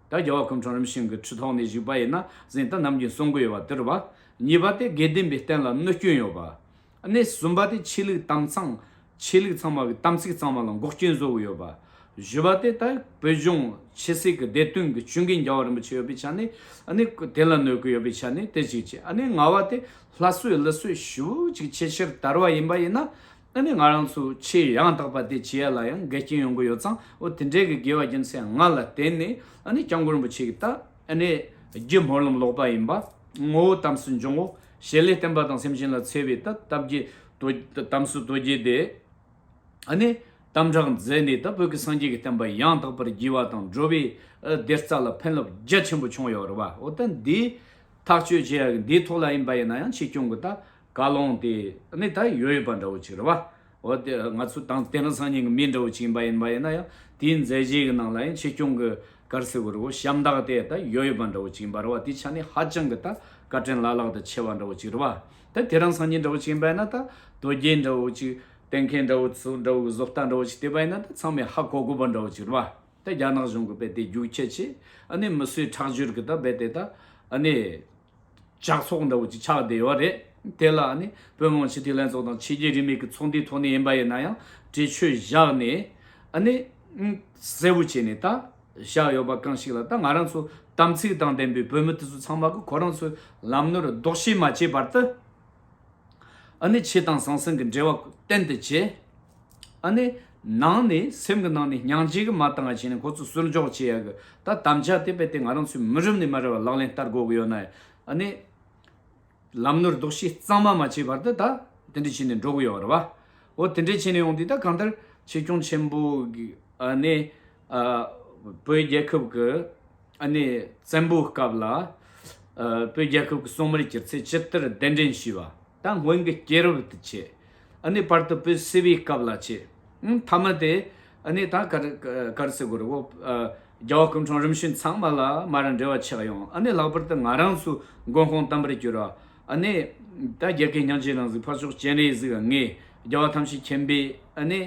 ད་རྒྱལ་བ་སྐུ་འཕྲེང་རིམ་བྱོན་གྱི་ཁྲི་ཐོག་ནས་བཞུགས་པ་ཡིན་ན་གཟེངས་རྟགས་ནམ་རྒྱུན་གསུང་གི་ཡོད་པ་དེར་བ། གཉིས་པ་སྟེ་དགེ་ལྡན་པའི་བསྟན་ལ་གནོད་སྐྱོན་ཡོད་པ། གནས་གསུམ་པ་སྟེ་ཆོས་ལུགས་དམ་གཙང། ཆོས་ལུགས་ཚང་མ་གི་དམ་ཚིག་གཙང་མ་ལ་འགོག་རྐྱེན་བཟོ་གི་ཡོད་པ། བཞི་པ་སྟེ་ད་བོད་ལྗོངས་ཕྱི་སྲིད་གི་བདེ་དོན་གི་བྱུང་གི་འགྱ་བ་རིན་པོ་ཆེ་ཡོད་པའི་ཆ་ནས་ནི་དེ་ལ་གནོད་གི་ཡོད་པའི་ཆ་ནས་དེ་གཅིག་བྱས་ནི་ལྔ་བ་སྟེ་ལྷ་གསོད་ལུད་གསོད་ཞུ་གཅིག་ཆེ་ཆེར་དར་བ་ཡིན་པ་ཡིན་ན། ཨ་ནི་ང་རང་ཚོ་ཆེས་ཡང་དག་པ་དེ་བྱེད་ཡ་ལ་ཡང་འགལ་རྐྱེན་ཡོང་གི་ཡོད་ཙང་ཨོ་དེ་འདྲའི་གི་དགེ་བ་རྒྱུ་མཚན་ལྔ་ལ་བརྟེན་ནས་ཨ་ནི་སྐྱབས་མགོན་རིན་པོ་ཆེ་གི་ཏཱ་ཨ་ནི་རྒྱུད་སྨོན་ལམ་ལོག་པ་ཡིན་པ་ངོ་བོ་དམ་སྲི་འབྱུང་ངོ་ཞེས་ལས་བསྟན་པ་དང་སེམས་ཅན་ལ་འཚེ་བའི་ཏཱ་སྟབས་ཀྱི་དམ་སྲི་རྡོ་རྗེ་དེ་ཨ་ནི་དམ་དྲག་མཛད་ནས་ད་བོད་ཀི་སངས་རྒྱས་ཀི་བསྟན་པ་ཡང་དག་པར་བགྱི་བ་དང་འགྲོ་བའི་བདེ་རྩ་ལ་ཕན་རླབས་རྒྱ་ཆེན་པོ་བྱུང་ཡོད་རེད་བ་ཨོ་ད་འདིའི་ཐག་གཅོད་བྱེད་ཡ་གི་འདིའི་ཐོག་ལ་ཡིན་པ་ཡིན་ན་ཡང་ཆེ་སྐྱོང་གི་ཏཱ་བཀའ་བློན་དེ་ནི་ད་ཡོད་ཡོད་པ་འདྲ་བོ་ཅིག་རེད། བ་འོ་དེ་ང་ཚོ་དང་དེ་རིང་སང་ཉིན་གྱི་མི་འདྲ་བོ་ཅིག་ཡིན་པ་ཡིན་པ་ཡིན་ན་ཡང་དེའི་མཛད་རྗེས་ཀྱི་ནང་ལ་ཡང་ཆེ་སྐྱོང་གི་གར་སེ་བོ་རི་བོ་ཤམ་ཐག་དེ་ད་ཡོད་ཡོད་པ་འདྲ་བོ་ཅིག་ཡིན་པ་རེད་བ་དེའི་ཆ་ནས་ཧ་ཅང་གི་ད་བཀའ་དྲིན་བླ་ལྷག་ཏུ་ཆེ་བ་འདྲ་བོ་ཅིག་རེད་བ། ད་དེ་རིང་སང་ཉིན་འདྲ་བོ་ཅིག་ཡིན་པ་ཡིན་ན་ད་དོལ་རྒྱལ་འདྲ་བོ་ཅིག་བསྟེན་མཁན་འདྲ་བོ་ཚོ་འདྲ་བོ་གི་བཟོ་ལྟ་འདྲ་བོ་ཅིག་བལྟས་པ་ཡིན་ན་ད་ཚང་མས་ཧ་གོ་དགོས་པ་འདྲ་བོ་ཅིག་རེད་བ། ད་རྒྱ་ནག་གཞུང་གི་དཔེ་དེ་རྒྱུགས་ཁྱད་ཆེ་ཨ་ནི་མི་སུའི་ཁྲག་སྦྱོར་གྱི་ད་དཔེ་དེ་ད་ཨ་ནི། ཇག་ཚོགས་འདྲ་བོ་ཅིག་ཆགས་བསྡད་ཡོད་པ་རེད། དེ་ལ་ནི་བོད་དམངས་སྤྱི་འཐུས་ལྷན་ཚོགས་དང་ཕྱི་རྒྱལ་རིས་མེད་ཀྱི་ཚོགས་འདུའི་ཐོག་ནས་ཡིན་པ་ཡིན་ན་ཡང་འདྲི་གཅོད་བཞག་ནས་ཨ་ནི། གསལ་བོ་བྱས་ནས་ད་བཞག་ཡོད་པ་གང་ཞིག་ལ་ད་ང་རང་ཚོ་དམ་ཚིག་དང་ལྡན་པའི་བོད་མི་དེ་ཚོ་ཚང་མ་གིས་ཁོ་རང་ཚོའི་ལམ་ནོར་ལྡོག་ཤེས་མ་བྱས་པར་དུ། ཨ་ནི་ཆོས་དང་ཟང་ཟིང་གི་འབྲེལ་བ་གཏན་དུ་བཅད། ཨ་ནི། ནང་ནས་སེམས་ཀྱི་ནང་ནས་སྙིང་རྗེ་གི་མ་ལྟ་ང་བྱས་ནས་ཁོ་ཚོ་སུར་འཇོག་བྱེད་ཡག་གི་ད་དམ་བཅའ་དེ་བས་ཏེ་ང་རང་ཚོའི་མི་རབས་ནས་མ་རེད་བ་ལག་ལེན་བསྟར་དགོས་གི་ཡོད་ན་ཨ་ནི། ལམ་ནོར་ལྡོག་ཤེས་གཙང་མ་མ་བྱས་བར་དུ་ད་དེ་འདྲས་བྱས་ནས་འགྲོ་གི་ཡོད་རེད་བ། འོ་དེ་འདྲས་བྱས་ནས་ཡོང་དུས་ད་གང་ལྟར་ཆེ་སྐྱོང་ཆེན་པོ་གིས་ཨ་ནི། བོད་རྒྱལ་ཁབ་ཀྱི་བཙན་པོའི་སྐབས་ལ་བོད་རྒྱལ་ཁབ་ཀྱི་གསོ་མར་གྱུར་ཚེ་སྤྱི་ལྟར་གདན་འདྲེན་བྱས་པ་དང་སྔོན་གྱི་སྐྱེས་རབས་དུ་བྱས། བར་དུ་བོད་སིལ་བུའི་སྐབས་ལ་བྱས། མཐའ་མ་དེ་དང་གར་སི་གུར་རྒྱལ་བ་སྐུ་འཕྲང་རིམ་བྱོན་ཚང་མ་ལ་མ་རང་འབྲེལ་བ་ཆགས་ཡོང། ལྷག་པར་དུ་ང་རང་ཚོའི་མགོན་ཁོང་དམ་པར་གྱུར་བ། རྒྱལ་ཁའི་ཉང་བཅུའི་རང་གཟིགས་འཕགས་མཆོག་སྤྱན་རས་གཟིགས་ལྔའི་རྒྱལ་བ་ཐམས་ཅད་མཁྱེན་པའི།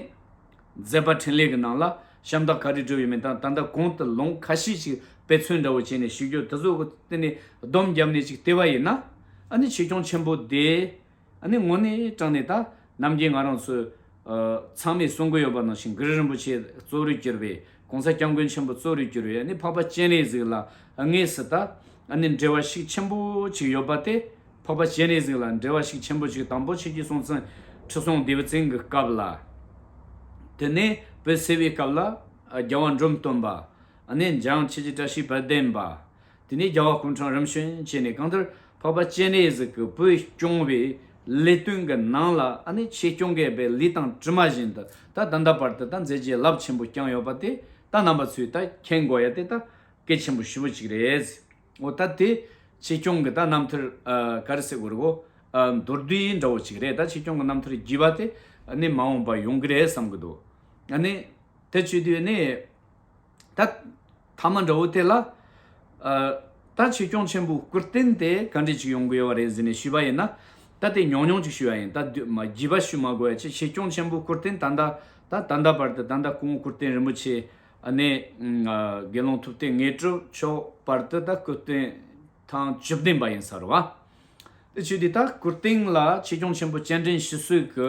མཛད་པ་འཕྲིན་ལས་ཀྱི་ནང་ལ་ཤམ་ཐག་ག་རེ་བྲོས་ཡོད་མེད་དང་ད་ལྟ་གོང་དུ་ལོང་ཁ་ཤས་ཤིག་དཔེ་མཚོན་འདྲ་བོ་བྱས་ནས་ཞུས་རྒྱུར་དེ་ཚོ་བསྟུན་ནས་སྡོམ་བརྒྱབ་ནས་ཅིག་བལྟས་པ་ཡིན་ན། ཨ་ནི་ཆེ་སྐྱོང་ཆེན་པོ་དེས་ཨ་ནི་ངོ་ནས་དྲངས་ནས་ད་རྣམ་རྒྱལ་ང་རང་ཚོས་ཚང་མས་གསུང་གི་ཡོད་པ་ནང་བཞིན་གྷི་རི་རིན་པོ་ཆེ་གཙོ་རུ་གྱུར་པའི་གོང་ས་སྐྱབས་མགོན་ཆེན་པོ་གཙོ་རུ་གྱུར་བའི་ནི་འཕགས་པ་སྤྱན་རས་གཟིགས་ལ་ངེས་སུ་ལྟ། ནི་འགྲེལ་བ་ཞིག་ཆེན་པོ་ཅིག་ཡོད་པ་སྟེ། འཕགས་པ་སྤྱན་རས་གཟིགས་ལ་འགྲེལ་བ་ཞིག་ཆེན་པོ་ཅིག་དང་པོ་ཕྱིས་ཀྱི་སྲོང་བཙན་ཁྲི་སྲོང་ལྡེའུ་བཙན་གྱི་སྐབས་ལ། དེ་ནས་བོད་སེལ་བའི་སྐབས་ལ། རྒྱལ་བ་འབྲོམ་སྟོན་པ། ནི་འཇང་ཁྱེད་ཀྱི་བཀྲ་ཤིས་དཔལ་ལྡན་པ། དེ་ནས་རྒྱལ་བ་ཀུན་འཕྲང་རིམ་བྱོན་བཅས་ནས་གང་ལྟར་འཕགས་པ་སྤྱན་རས་གཟིགས་ཀྱི་བུ་སྐྱོང་བའི་ལས་དོན་གྱི་ནང་ལ་ཨ་ནི་ཆེ་སྐྱོང་གལ་པའི་ལི་ཐང་དྲི་མ་བཞིན་དུ་ད་ད་ལྟ་བར་དུ་ད་མཛད་རྗེས་རླབས་ཆེན་པོ་བསྐྱངས་ཡོད་པ་དེ་ད་རྣམ་པ་ཚོས་ད་མཁྱེན་དགོས་ཡ་དེ་ད་སྐལ་ཆེན་པོ་ཞི་བོ་གཅིག་རེད་འོ་ད་དེ་ཆེ་སྐྱོང་གི་ད་རྣམ་ཐར་ག་རེ་སེ་གོ་རེ་གོ་མདོར་བསྡུས་འདྲ་བོ་གཅིག་རེད་ད་ཆེ་སྐྱོང་གི་རྣམ་ཐར་བགྱིས་པ་དེ་ནི་མ་འོངས་པ་ཡོང་གི་རེད་བསམ་གི་འདུག་ཨ་ནི་དེ་བཅུ་དུས་ནི། ད་ཐ་མ་འདྲ་བོ་དེ་ལ། ད་ཆོས་སྐྱོང་ཆེན་པོ་སྐུར་བསྟན་ཏེ་ག་འདྲས་ཅིག་ཡོང་གི་ཡོད་པ་རེད་ཟེར་ནས་ཞུས་པ་ཡིན་ན། ད་དེ་ཉོག་ཉོག་ཅིག་ཞུས་ཡ་ཡིན་ད་བགྱི་བ་ཞུ་མ་དགོས་ཡ་ཅེས་ཆོས་སྐྱོང་ཆེན་པོ་སྐུར་བསྟན་ད་ལྟ་ད་ད་ལྟ་བར་དུ་ད་ལྟ་སྐུ་ངོ་སྐུར་བསྟན་རིན་པོ་ཆེ་ནས་དགེ་སློང་ཐུབ་བསྟན་ངེས་དྲུག་མཆོག་བར་དུ་ད་སྐུ་བསྟན་ཐང་བཅུ་བདེན་པ་ཡིན་ས་རུ་བ། དེ་ཆོས་དེ་ད་སྐུར་བསྟན་ལ་ཆོས་སྐྱོང་ཆེན་པོ་སྤྱན་འདྲེན་ཞུ་གསོལ་གྱི་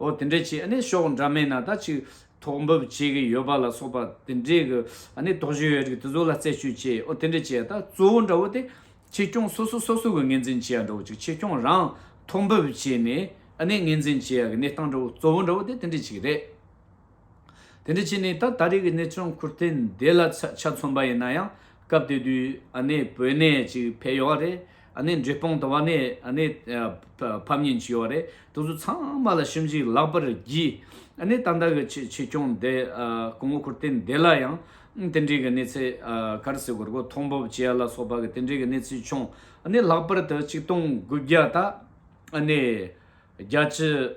ཨོ་དེ་འདྲའི་ཆེ་ཨ་ནི་ཤོག་འདྲ་མེད་ན་ད་ཅིག་ཐོག་འབབ་བྱེད་ཀྱི་ཡོད་པ་ལ་སོགས་པ་དེ་འདྲའི་གི་ཨ་ནི་དོགས་གཞི་ཡོད་རིགས་དེ་ཚོ་ལ་རྩད་གཅོད་བྱས་ཨོ་དེ་འདྲའི་ཆེ་ད་གཙོ་བོ་འདྲ་བོ་དེ་ཆེ་སྐྱོང་སོ་སོ་སོ་སོ་གི་ངེས་འཛིན་བྱེད་ཡ་འདྲ་བོ་ཅིག་ཆེ་སྐྱོང་རང་ཐོག་འབབ་བྱས་ནས་ཨ་ནི་ངེས་འཛིན་བྱེད་ཡ་གི་གནས་སྟངས་འདྲ་བོ་གཙོ་བོ་འདྲ་བོ་དེ་དེ་འདྲའི་ཆེ་གི་རེད། དེ་འདྲ་བྱས་ནས་ད་ད་རེས་ཀྱི་གནས་ཚུལ་འཁུར་ཐེངས་འདི་ལ་ཆ་མཚོན་པ་ཡིན་ན་ཡང་སྐབས་དེ་དུས་ཨ་ནེ་བོད་ནས་ཅིག་ཕེབས་ཡོད་རེད་ཨ་ནེ་འབྲས་སྤུངས་དང་བ་ནས་ཨ་ནེ་ཕབ་ཉེན་ཅིག་ཡོད་རེད་དེ་ཚོ་ཚང་མ་ལ་ཞིབ་འཇིག་ལག་པར་བགྱིས་ཨ་ནེ་ད་ལྟ་གི་ཆེད་ཆེད་སྐྱོང་འདི་གོང་འོག་འཁུར་ཐེངས་འདི་ལ་ཡང་དེ་འབྲེལ་གྱི་གནས་ཚད་གར་སེ་གོར་གོར་མཐོང་ཕོབ་བྱས་ཡ་ལ་སོགས་པ་གི་དེ་འབྲེལ་གྱི་གནས་ཚུལ་བྱུང་ཨ་ནེ་ལྷག་པར་དུ་གཅིག་སྟོང་དགུ་བརྒྱ་དང་ཨ་ནེ་བརྒྱ་བཅུ།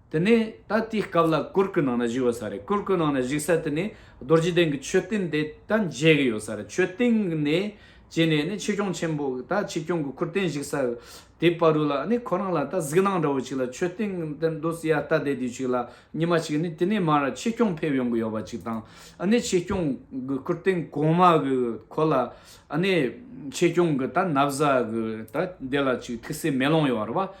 དེ་ནས་ད་ལྟའི་སྐབས་ལ་གུར་གུལ་ནང་ན་བཞུགས་ཡོད་ས་རེད་གུར་གུལ་ནང་ན་བཞུགས་ས་དེ་ནས་རྡོ་རྗེ་གདན་གྱི་མཆོད་རྟེན་དེ་ད་མཇལ་གྱི་ཡོད་ས་རེད་མཆོད་རྟེན་ནས་བྱས་ནས་ནི་ཆོས་སྐྱོང་ཆེན་པོ་ད་ཆོས་སྐྱོང་གི་གུར་རྟེན་བཞུགས་ས་དེ་པ་རུ་ལ་ནི་ཁོ་རང་ལ་ད་གཟིགས་སྣང་འདྲ་བོ་ཅིག་ལ་མཆོད་རྟེན་དེ་འདུག་སྲིད་ཡ་ལྟ་བདེ་དུས་ཅིག་ལ་ཉི་མ་ཅིག་ནི་དེ་ནས་མར་ཆོས་སྐྱོང་ཕེབས་ཡོང་གི་ཡོད་པ་ཅིག་དང་ནི་ཆོས་སྐྱོང་གི་གུར་རྟེན་གོང་མ་གི་གོ་ལ་ནི་ཆོས་སྐྱོང་གི་ད་ན་བཟའ་གི་ད་དེ་ལ་ཅིག་ཐིག་སེ་མེ་ལོང་ཡོད་རེད་བ།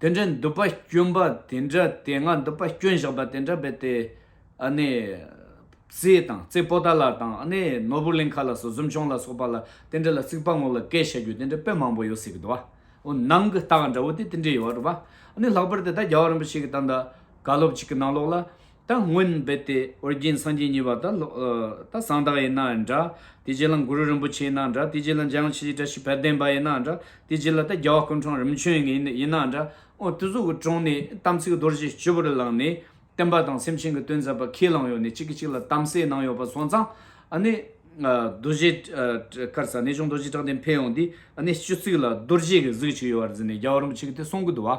དེ་འདྲའི་མདུད་པ་སྐྱོན་པ་དེ་འདྲ་དེ་སྔ་མདུད་པ་སྐྱོན་བཞག་པ་དེ་འདྲ་བས་དེ། རྩེ་དང་རྩེ་པོ་ཏཱ་ལ་དང་ནོར་བུ་གླིང་ཁ་ལ་སོགས་གཟིམ་ཆུང་ལ་སོགས་པ་ལ་དེ་འདྲ་ལ་རྩིག་པ་ངོ་ལ་བཀལ་བྱ་རྒྱུ་དེ་འདྲ་དཔེ་མང་པོ་ཡོད་སྲིད་ཀྱི་འདུག་བ། འོ་ནང་གི་རྟགས་འདྲ་བོ་དེ་དེ་འདྲའི་ཡོད་བ་འདུག་བ། ལྷག་པར་དུ་ད་རྒྱ་བ་རིན་པོ་ཆེ་གི་ད་ལྟ་བཀའ་སློབ་ཅིག་གི་ནང་ལོགས་ལ། ད་སྔོན་རྦད་དེ་ཨོ་རྒྱན་སངས་རྒྱས་གཉིས་པ་དང། ད་གསང་བདག་ཡིན་ནའང་འདྲ། དེ་རྗེས་ལ་གུ་རུ་རིན་པོ་ཆེ་ཡིན་ནའང་འདྲ། དེ་རྗེས་ལ་འཇམ་དབྱངས་ཆོས་རྗེ་བཀྲ་ཤིས་དཔལ་ལྡན་པ་ཡིན་ནའང་འདྲ། དེ་རྗེས་ལ་ད་རྒྱལ་བ་ཀུན་འཕྲང་རིམ་བྱོན་ཡིན་ནའང་འདྲ། ཨོ་དུས་ཚོགས་ཀྱི་དྲུང་ནས་དམ་ཚིག་རྡོ་རྗེ་སྤྱི་བོར་བླངས་ནས། བསྟན་པ་དང་སེམས་ཅན་གྱི་དོན་མཛད་པ་ཁས་བླངས་ཡོད་ནས་གཅིག་གིས་གཅིག་ལ་གཏམ་གསལ་གནང་ཡོད་པ་སོང་ཙང། རྡོ་རྗེ། དཀར་ས་གནས་ཆུང་རྡོ་རྗེ་བཀྲག་ལྡན་འཕེལ་ཡོང་དུས། སྤྱི་གཙུག་ལ་རྡོ་རྗེ་གི་གཟུགས་གཅིག་ཡོད་པར་འཛིན་ནས་རྒྱལ་བ་རིན་པོ་ཆེ་གི་དེ་གསུང་གི་འདུག་བ།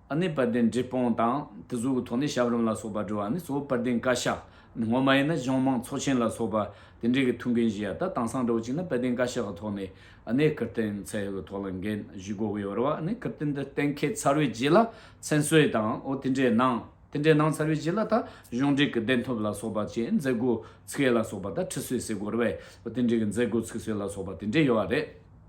ནི་པར་ལྡན་འབྲས་སྤུངས་དང་དུ་གཟུགས་ཀྱི་ཐོག་ནས་ཞབས་རིམ་ལ་སོགས་པར་འགྲོ་བ་ནི་གཙོ་བོ་པར་ལྡན་བཀའ་ཤག་ངོ་མ་ཡིན་ན་གཞུང་མང་ཚོགས་ཆེན་ལ་སོགས་པ་དེ་འདྲའི་གི་ཐུགས་འགན་བཞེས་ཡ་ད་དང་སང་འགྲོ་གཅིག་ན་པར་ལྡན་བཀའ་ཤག་གི་ཐོག་ནས་ནས་བཀུར་བསྟན་ཚད་ཡོད་གི་ཐོག་ལ་འགན་བཞུས་དགོས་གི་ཡོད་རེད་བ་ནི་བཀུར་བསྟན་འདི་གཏན་འཁེལ་ཚར་བའི་རྗེས་ལ་མཚན་གསོལ་དང་འོ་དེ་འདྲའི་གནང་དེ་འདྲའི་གནང་ཚར་བའི་རྗེས་ལ་ད་གཞུང་འབྲེལ་གི་བདེན་ཐོབ་ལ་སོགས་པ་བཅས་མཛད་སྒོ་ཚུགས་ཡས་ལ་སོགས་པ་ད་ཁྲི་སྲོས་ཟེར་དགོས་རེད་བ་དེ་འདྲའི་གི་མཛད་སྒོ་ཚུགས་སྲོལ་ལ་སོགས་པ་དེ་འདྲའི་ཡོད་བ་རེད།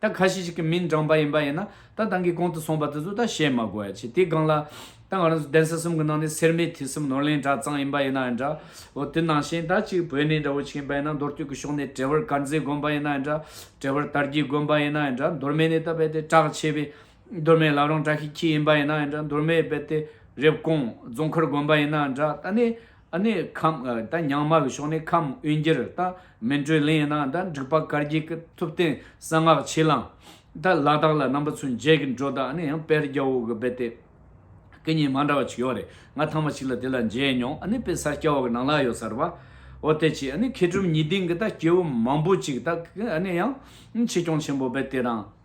ད་ཁ་ཤས་ཤིག་གི་མིང་བགྲང་པ་ཡིན་པ་ཡིན་ན་ད་དང་གི་གོང་དུ་སོང་པ་དེ་ཚོ་ད་བཤད་མ་དགོས་ཡ་ཆེ་དེ་སྒང་ལ། ད་ང་རང་གདན་ས་གསུམ་གི་ནང་ནས་སེར་མེ་ཐིག་གསུམ་ནོར་གླིང་གྲྭ་ཚང་ཡིན་པ་ཡིན་ན་ཡང་འདྲ། འོ་དེ་ནང་བཞིན་ད་གཅིག་བོད་ནས་འདྲ་བོ་ཆིག་ཡིན་པ་ཡིན་ན་མདོར་བསྟོད་ཀི་ཕྱོགས་ནས་བྲེ་བར་དཀར་མཛེས་དགོན་པ་ཡིན་ན་ཡང་འདྲ། བྲེ་བར་དར་རྒྱས་དགོན་པ་ཡིན་ན་ཡང་འདྲ་མདོར་མེད་ནས་ད་རྦད་དེ་གྲགས་ཆེ་བའི། མདོར་མེད་ལབ་རང་གྲགས་ཤིག་ཁྱི་ཡིན་པ་ཡིན་ན་ཡང་འདྲ་མདོར་མེད་རྦད་དེ་རེབ་གོང་རྫོང་མཁར་དགོན་པ་ཡིན་ན་ཡང་འདྲ་ད་ནི། ཨ་ནི་ཁམས་ད་ཉང་མ་གི་ཕྱོགས་ནས་ཁམས་དབུས་འགྱུར་ད་མན་ཀྲོའི་གླིང་ཡིན་ན་ད་འབྲུག་པ་དཀར་རྒྱལ་གི་ཐུབ་བསྟན་གསང་སྔགས་ཆེ་ལང་ད་ལ་དག་ལ་རྣམ་པ་ཚུན་བརྒྱད་གི་འགྲོ་ད་ཨ་ནི་ཡང་པེར་རྒྱལ་བོ་གི་སྦེ་ཏེ་ཀི་གཉིས་མ་འདྲ་བ་ཅིག་ཡོད་རེད་ང་ཐང་མ་ཅིག་ལ་དེ་ལ་མཇལ་མྱོང་ཨ་ནི་པེ་སར་སྐྱ་བོ་གི་ནང་ལ་ཡོད་སར་བ་འོ་དེ་ཅི་ཨ་ནི་མཁས་གྲུབ་ཉི་སྡིང་གི་ད་སྐྱེ་བོ་མང་པོ་ཅིག་ད་ཨ་ནི་ཡང་ཆེ་སྐྱོང་ཆེན་པོ་སྦེ་ཏེ་རང།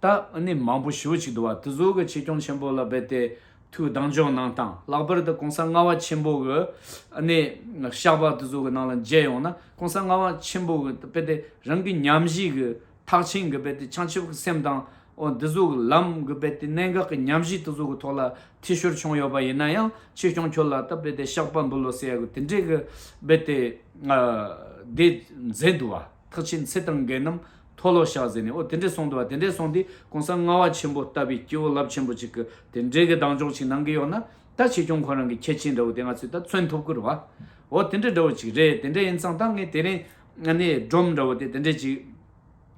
ད་ནི་མང་པོ་ཞུ་བ་ཅིག་འདུག་བ་དེ་གཟུགས་ཀྱི་ཆེ་སྐྱོང་ཆེན་པོ་ལ་རྦད་དེ་ཐུགས་སྡང་ཇོ་ནང་དང་ལྷག་པར་དུ་གོང་ས་ལྔ་བ་ཆེན་པོ་གི་ཞགས་པ་དེ་གཟུགས་ཀྱི་ནང་ལ་མཇལ་ཡོང་ན་གོང་ས་ལྔ་བ་ཆེན་པོ་གི་རྦད་དེ་རང་གི་ཉམས་བཞེས་ཀྱི་ཐག་ཆེན་གྱི་རྦད་དེ་བྱང་ཆུབ་ཀྱི་སེམས་དང་འོ་དེ་གཟུགས་ཀྱི་ལམ་གྱི་རྦད་དེ་གནད་འགག་གི་ཉམས་བཞེས་དེ་གཟུགས་ཀྱི་ཐོག་ལ་ཐེ་ཤོར་བྱུང་ཡོད་པ་ཡིན་ན་ཡང་ཆེ་སྐྱོང་ཁྱོད་ལ་ད་རྦད་དེ་ཞགས་པ་འབུལ་ལོ་ཟེར་ཡག་གི་དེ་འདྲའི་གི་རྦད་དེ་དེ་མཛད་འདུག་བ། ཐག་ཆེན་ཚེ་དང་འགལ་རྣམས་མཐོ་བློ་བཤགས་ཟེར་ནས་ཨོ་དེ་འདྲས་སོང་དུ་བ་དེ་འདྲས་སོང་དུས་གོང་ས་ལྔ་བ་ཆེན་པོ་ལྟ་བུའི་སྐྱེ་བོ་རླབས་ཆེན་པོ་ཅིག་གི་དེ་འདྲས་གི་གདངས་ཅོག་ཅིག་ནང་གི་ཡོད་ན་ད་ཆེ་ཆུང་ཁོ་རང་གི་ཁྱད་ཆེན་འདྲ་བོ་དེ་ང་ཚོས་ད་མཚོན་ཐུབ་ཀི་རུ་བ། ཨོ་དེ་འདྲས་འདྲ་བོ་ཅིག་རེད་དེ་འདྲས་ཡིན་ཙང་ད་ངས་དེ་རིང་གནས་སྒྲོམ་འདྲ་བོ་དེ་དེ་འདྲས་ཅིག་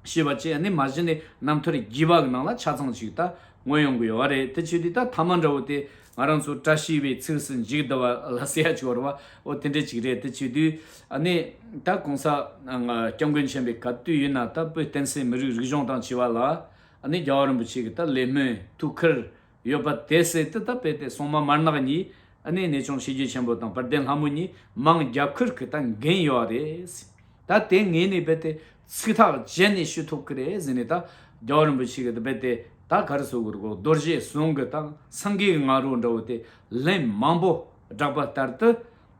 ཤེས་པ་ཅིག་གནས་མ་གཞི་ནས་ནམ་ཐོ་རེ་བགྱིས་པ་གི་ནང་ལ་ཆ་ཚང་ཅིག་ད་ངོས་ཡོང་གི་ཡོད་བ་རེད་དེ་ཆོས་དུས་ད་ཐ་མ་འདྲ་བོ་དེ་ང་རང་ཚོ་བཀྲ་ཤིས་པའི་ཚིགས་སུ་འཇུག་བསྡུ་བ་ལ་ཟེར་ཡག་ཆོག་རེད་བ། ཨོ་དེ་འདྲ་ཅིག་རེད་དེ་བྱེད་དུས་ནི། ད་གོང་ས། སྐྱབས་མགོན་ཆེན་པོའི་ག་དུས་ཡིན་ན་ད་བོད་བསྟན་སྲིད་མི་རིགས་རིག་གཞུང་དང་བྱིས་བ་ལ། ནི་རྒྱལ་བ་རིན་པོ་ཆེ་གི་ད་ལས་སྨོན་ཐུགས་ཁུར། ཡོད་པ་དེ་བསྲེས་ཏེ་ད་དཔེ་དེ་སོང་མ་མར་ནག་གཉིས། ནི་ནས་ཆུང་ཤེས་རྒྱུད་ཆེན་པོ་དང་བར་ལྡན་ལྷ་མོ་གཉིས་མང་རྒྱ་ཁུར་གི་ད་འགན་ཡོད་རེད། ད་དེ་ངས་ནི་རྦད་དེ། ཚིག་ཐག་བཅད་ནས་ཞུ་ཐུབ་ཀྱི་རེད་ཟེར་ནས་ད་རྒྱ་བ་རིན་པོ་ཆེ་གི་དཔེ་དེ་དག་ག་རེ་བཟོ་གི་རེད་གོ་རྡོ་རྗེ་ཟུང་གི་དང་སང་གེའི་ང་རོ་འདྲ་བོ་དེ་ལན་མང་པོ་བསྒྲགས་པ་ལྟར་དུ་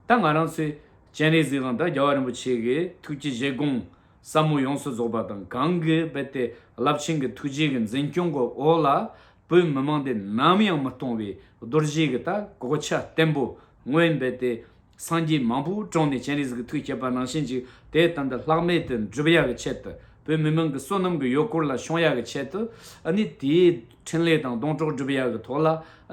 ད་ང་རང་ཚོས་སྤྱན་རས་གཟིགས་དང་ད་རྒྱ་བ་རིན་པོ་ཆེ་གི་ཐུགས་ཀྱི་བཞེད་དགོངས་ཟབ་མོ་ཡོངས་སུ་རྫོགས་པ་དང་གང་གི་དཔེ་དེ་རླབས་ཆེན་གྱི་ཐུགས་རྗེ་གི་འཛིན་སྐྱོང་གི་འོག་ལ་བོད་མི་མང་དེ་ནམ་ཡང་མི་གཏོང་བའི་རྡོ་རྗེ་གི་ད་གོ་ཆ་བརྟན་པོ་སྔོན་རྦད་དེ། སངས་རྒྱས་མང་པོས་བཀྲོངས་ནས་སྤྱན་རས་གཟིགས་ཀྱི་ཐུགས་བསྐྱེད་པ་ནང་བཞིན་གྱི་དེའི་སྟེང་དུ་ལྷག་མེད་དུ་འགྲུབ་ཡ་གི་ཆེད་དུ། བོད་མི་མང་གི་བསོད་ནམས་ཀྱི་ཡོལ་གོར་ལ་ཤོང་ཡ་གི་ཆེད་དུ། ནི་དེའི་ཕྲིན་ལས་དང་སྡོང་གྲོགས་བསྒྲུབ་ཡ་གི་ཐོག་ལ།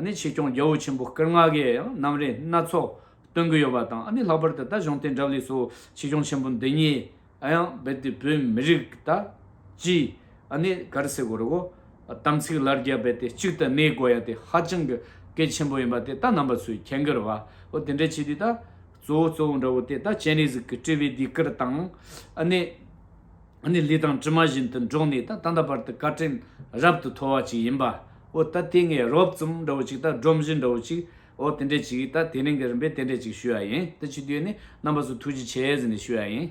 ནི་ཆོས་སྐྱོང་རྒྱལ་བོ་ཆེན་པོ་སྐར་ལྔ་གའི་ཡང་རྣམ་རིག་སྣ་ཚོགས་སྟོན་གྱི་ཡོད་པ་དང། ནི་ལྷག་པར་དུ་ད་གཞུང་དེང་རབས་ལས་སོ་ཆོས་སྐྱོང་ཆེན་པོ་འདི་ཉིད། ཨ་ཡང་རྦད་དེ་བོད་མི་རིགས་ཀྱི་ད་ཅི་ཨ་ནི་ག་རེ་ཟེར་དགོས་རེད་གོ། དམ་ཚིག་ལར་རྒྱ་རྦད་དེ་གཅིག་ད་གནས་དགོས་ཡ་དེ་ཧ་ཅང་གི་གལ་ཆེན་པོ་ཡིན་པ་དེ་ད་ནང་པ་ཚོས་ཁྱེད་འགལ་བ་འོ་དེ་འདྲ་བྱས་དུས་ད་གཙོ་བོ་གཙོ་བོ་འདྲ་བོ་དེ་ད་སྤྱན་རས་གཟིགས་ཀྱི་དཔྲལ་བའི་སྡིག་སྐར་དང། ཨ་ནི་ཨ་ནི་ལི་ཐང་དྲི་མ་བཞིན་དུ་འགྲོགས་ནས་ད་ད་ད་བར་དུ་བཀའ་དྲིན་རབ་ཏུ་མཐོ་བ་ཅིག་ཡིན་པ་འོ་ད་དེ་ངས་རོབ་ཙམ་འདྲ་བོ་ཅིག་ད་སྒྲོམ་གཞི་འདྲ་བོ་ཅིག་འོ་དེ་འདྲ་ཅིག་ད་དེ་རིང་གི་རིམ་པས་དེ་འདྲ་ཅིག་ཞུས་ཡ་ཡིན་ད་ཕྱི་དུས་ནས་རྣམ་པ་ཚོ་ཐུགས་རྗེ་ཆེ་ཟེར་ནས་ཞུས་ཡ་ཡིན།